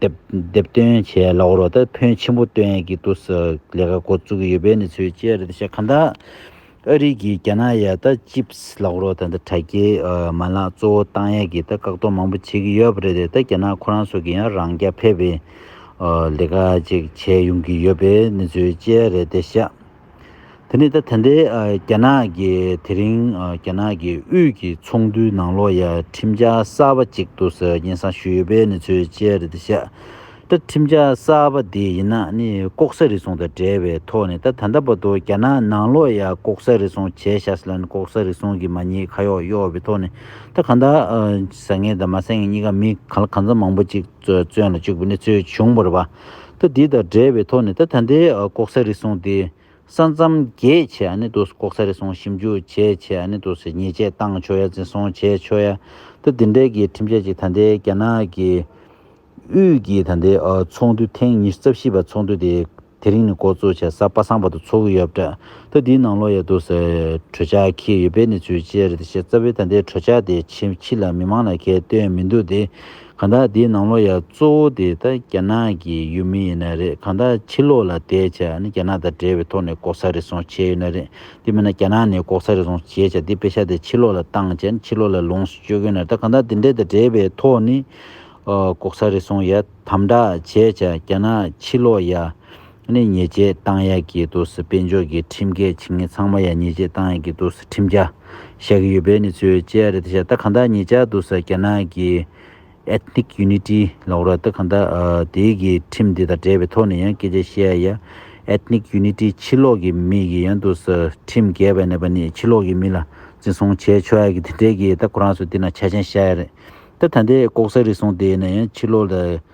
དེབ་སྟོན་བྱས་གློག་རོགས་དེ་ཕོན་ཆེན་པོ་སྟོན་ཡས་ཀྱི་དུས་སུ་ལས་ཀ་འགོ་བཙུགས་ཡོད་པའི་གནས་ཚུལ་བཅས་རེད་ཤག་གྷ་དྷ་ཨ་རི་གིས་རྒྱ་ནག་ཡ་ད་ཅིབས་གློག་རོགས་དེ་དྲ་རྒྱའི་མ་ལག་གཙོ་བོ་བཏང་ཡས་ཀྱི་བཀག་སྡོམ་མང་པོ་བྱེད་ཀྱི་ཡོད་པ་རེད་དེ་རྒྱ་ནག་ཁོ་རང་སོགས་ཀྱིས་ཡང་རང་རྐྱ་འཕེར་བའི་ལས་ཀ་ཅིག་བྱས་ཡོང་གི་ཡོད་པའི་གནས་ཚུལ་བཅས་རེད་ཤག་དེ་ནི་ད་ཐེངས་རྒྱ་ནག་གི་དེ་རིང་རྒྱ་ནག་གི་དབུས་ཀྱི་ཚོགས་འདུའི་ནང་ལོ་ཡར་ཁྲིམས་འཆར་གསར་པ་གཅིག་ཏུ་ཟེར་བ་ཡིན་བསམ་ཞུས་ཡོད་པའི་གནས་ཚུལ་བཅས་རེད་འདུག་ཤ་ཀྲ་ཁྲིམས་འཆར་གསར་པ་འདི་ཡིན་ན་ནི་ལྐོག་ཟ་རེ་ཟུང་དང་འབྲེལ་བའི་ཐོག་ནས་ད་ད་ལྟ་བར་དུ་རྒྱ་ནག་ནང་ལོ་ཡར་ལྐོག་ཟ་རེ་ཟུང་བྱས་ཤ་ཟ་ལ་ནི་ལྐོག་ཟ་རེ་ཟུང་གིས་མ་ཉེས་ཁ་གཡོག་གཡོག་པའི་ཐོག་ནས་ད་གང་ཟ་ངེས་དང་མ་ཟ་ངེས་གཉིས་ཀ་མི་གང་ལ་གང་ཟ་མང་པོ་གཅིག་བཙོན་ལ་བཅུག་པའི་གནས་ཚུལ་བྱུང་བར་བ། ད་འདི་དང་འབྲེལ་བའི་ཐོག་ནས་ད་ད་འདི་ལྐོག་ཟ་རེ་ཟུང་དེ་ས་མཚམས་བརྒལ་ཆེད་ཨ་ནི་དོ་ལྐོག་ཟ་རེ་ཟུང་ཞིབ་འཇུག་བྱས་ཆེད་ཨ་ནི་དོ་ཉེས་ཆད་བཏང་ཆོག་ཡ་འཛིན་བཟུང་བྱས་ཆོག་ཡ་ད་འདི་འདྲའི་གི་ཁྲིམས་ཆད་ཅིག་ད་འདི་རྒྱ་ནག་གི་དབུས་ཀྱི་ད་འདི་ཚོགས་འདུ་ཐེངས་ཉི་ཤུ་རྩ་བཞི་པ་ཚོགས་འདུ་དེ་དེ་རིང་ནས་འགོ་གཙོ་བྱས་ས་པ་སངས་པ་དང་ཚོགས་ཡོད་པ་ད་འདིའི་ནང་ལོག་ཡ་དོ་གྲོས་འཆར་ཁེལ་ཡོད་པའི་གནས་ཚུལ་བཅས་རེད་ད་བཤད་རྩ་བའི་ད་འདི་གྲོས་འཆར་དེ་ཕྱི་ལ་མི་མང་ལ་ཁེལ་བཏོན་མི་འདུག་དེ། གང་དག་དེའི་ནང་ལོགས་ཡ་གཙོ་བོ་དེ་ད་རྒྱ་ནག་གི་ཡུལ་མི་ཡིན་ན་རེད་གང་དག་ཕྱི་ལོགས་ལ་བསྡད་བྱ་ནི་རྒྱ་ནག་དང་འབྲེལ་བའི་ཐོག་ནས་ལྐོག་ཟ་རེ་ཟུང་བྱས་ཡོད་ན་རེད་དེ་མིན་ན་རྒྱ་ནག་ནས་ལྐོག་ཟ་རེ་ཟུང་བྱས་བྱ་དེ་དཔེ་ཆ་དེ་ཕྱི་ལོགས་ལ་བཏང་བྱ་ནི་ཕྱི་ལོགས་ལ་ལོངས་སུ་སྤྱོད་གིན་ན་ད་གང་དག་དེ་འདྲེ་དང་འབྲེལ་བའི་ཐོག་ནས་ལྐོག་ཟ་རེ་ཟུང་ཡ་དམ་དྲག་བྱས་བྱ་རྒྱ་ནག་ཕྱི་ལོགས་ཡ་ནས་ཉེས་བཅད་བཏང་ཡག་གི་འདུག་སི་དཔལ་འབྱོར་གྱི་ཁྲིམས་འགལ་བྱེད་མཁན་ཚང་མ་ཡ་ཉེས་བཅད་བཏང་ཡག་གི་འདུག་སི་ཁྲིམས་འགལ་བཤད་གི་ཡོད་པའི་ནི་ཚོའི་བཅད་རེད་ད་ཤ་ད་གང་དག་ཉེས་བཅད་འདུག་སི་རྒྱ་ནག་གི Ethnic Unity ལོག་ར་ད་གང་དག་དེའི་གི་ཁྲིམས་དེ་དང་འབྲེལ་བའི་ཐོག་ནས་ཡང་སྐད་ཆ་བཤད་ཡ Ethnic Unity ཕྱི་ལོག་གི་མི་གི་ཡང་འདུག་སི་ཁྲིམས་འགལ་བས་ནས་པ་ནི་ཕྱི་ལོག་གི་མི་ལ་འཛིན་བཟུང་བྱས་ཆོག་ཡག་གི་དེ་འདྲའི་གི་ད་ཁོ་རང་ཚོ་དེ་ན་ཆ་ཆེན་བཤད་ཡ་རེད་ད་ད་འདྲའི་ལྐོག་ཟ་རིགས་སོང་དེ་ཡེ་ནས་ཡང་ཕྱི་ལོག་ལ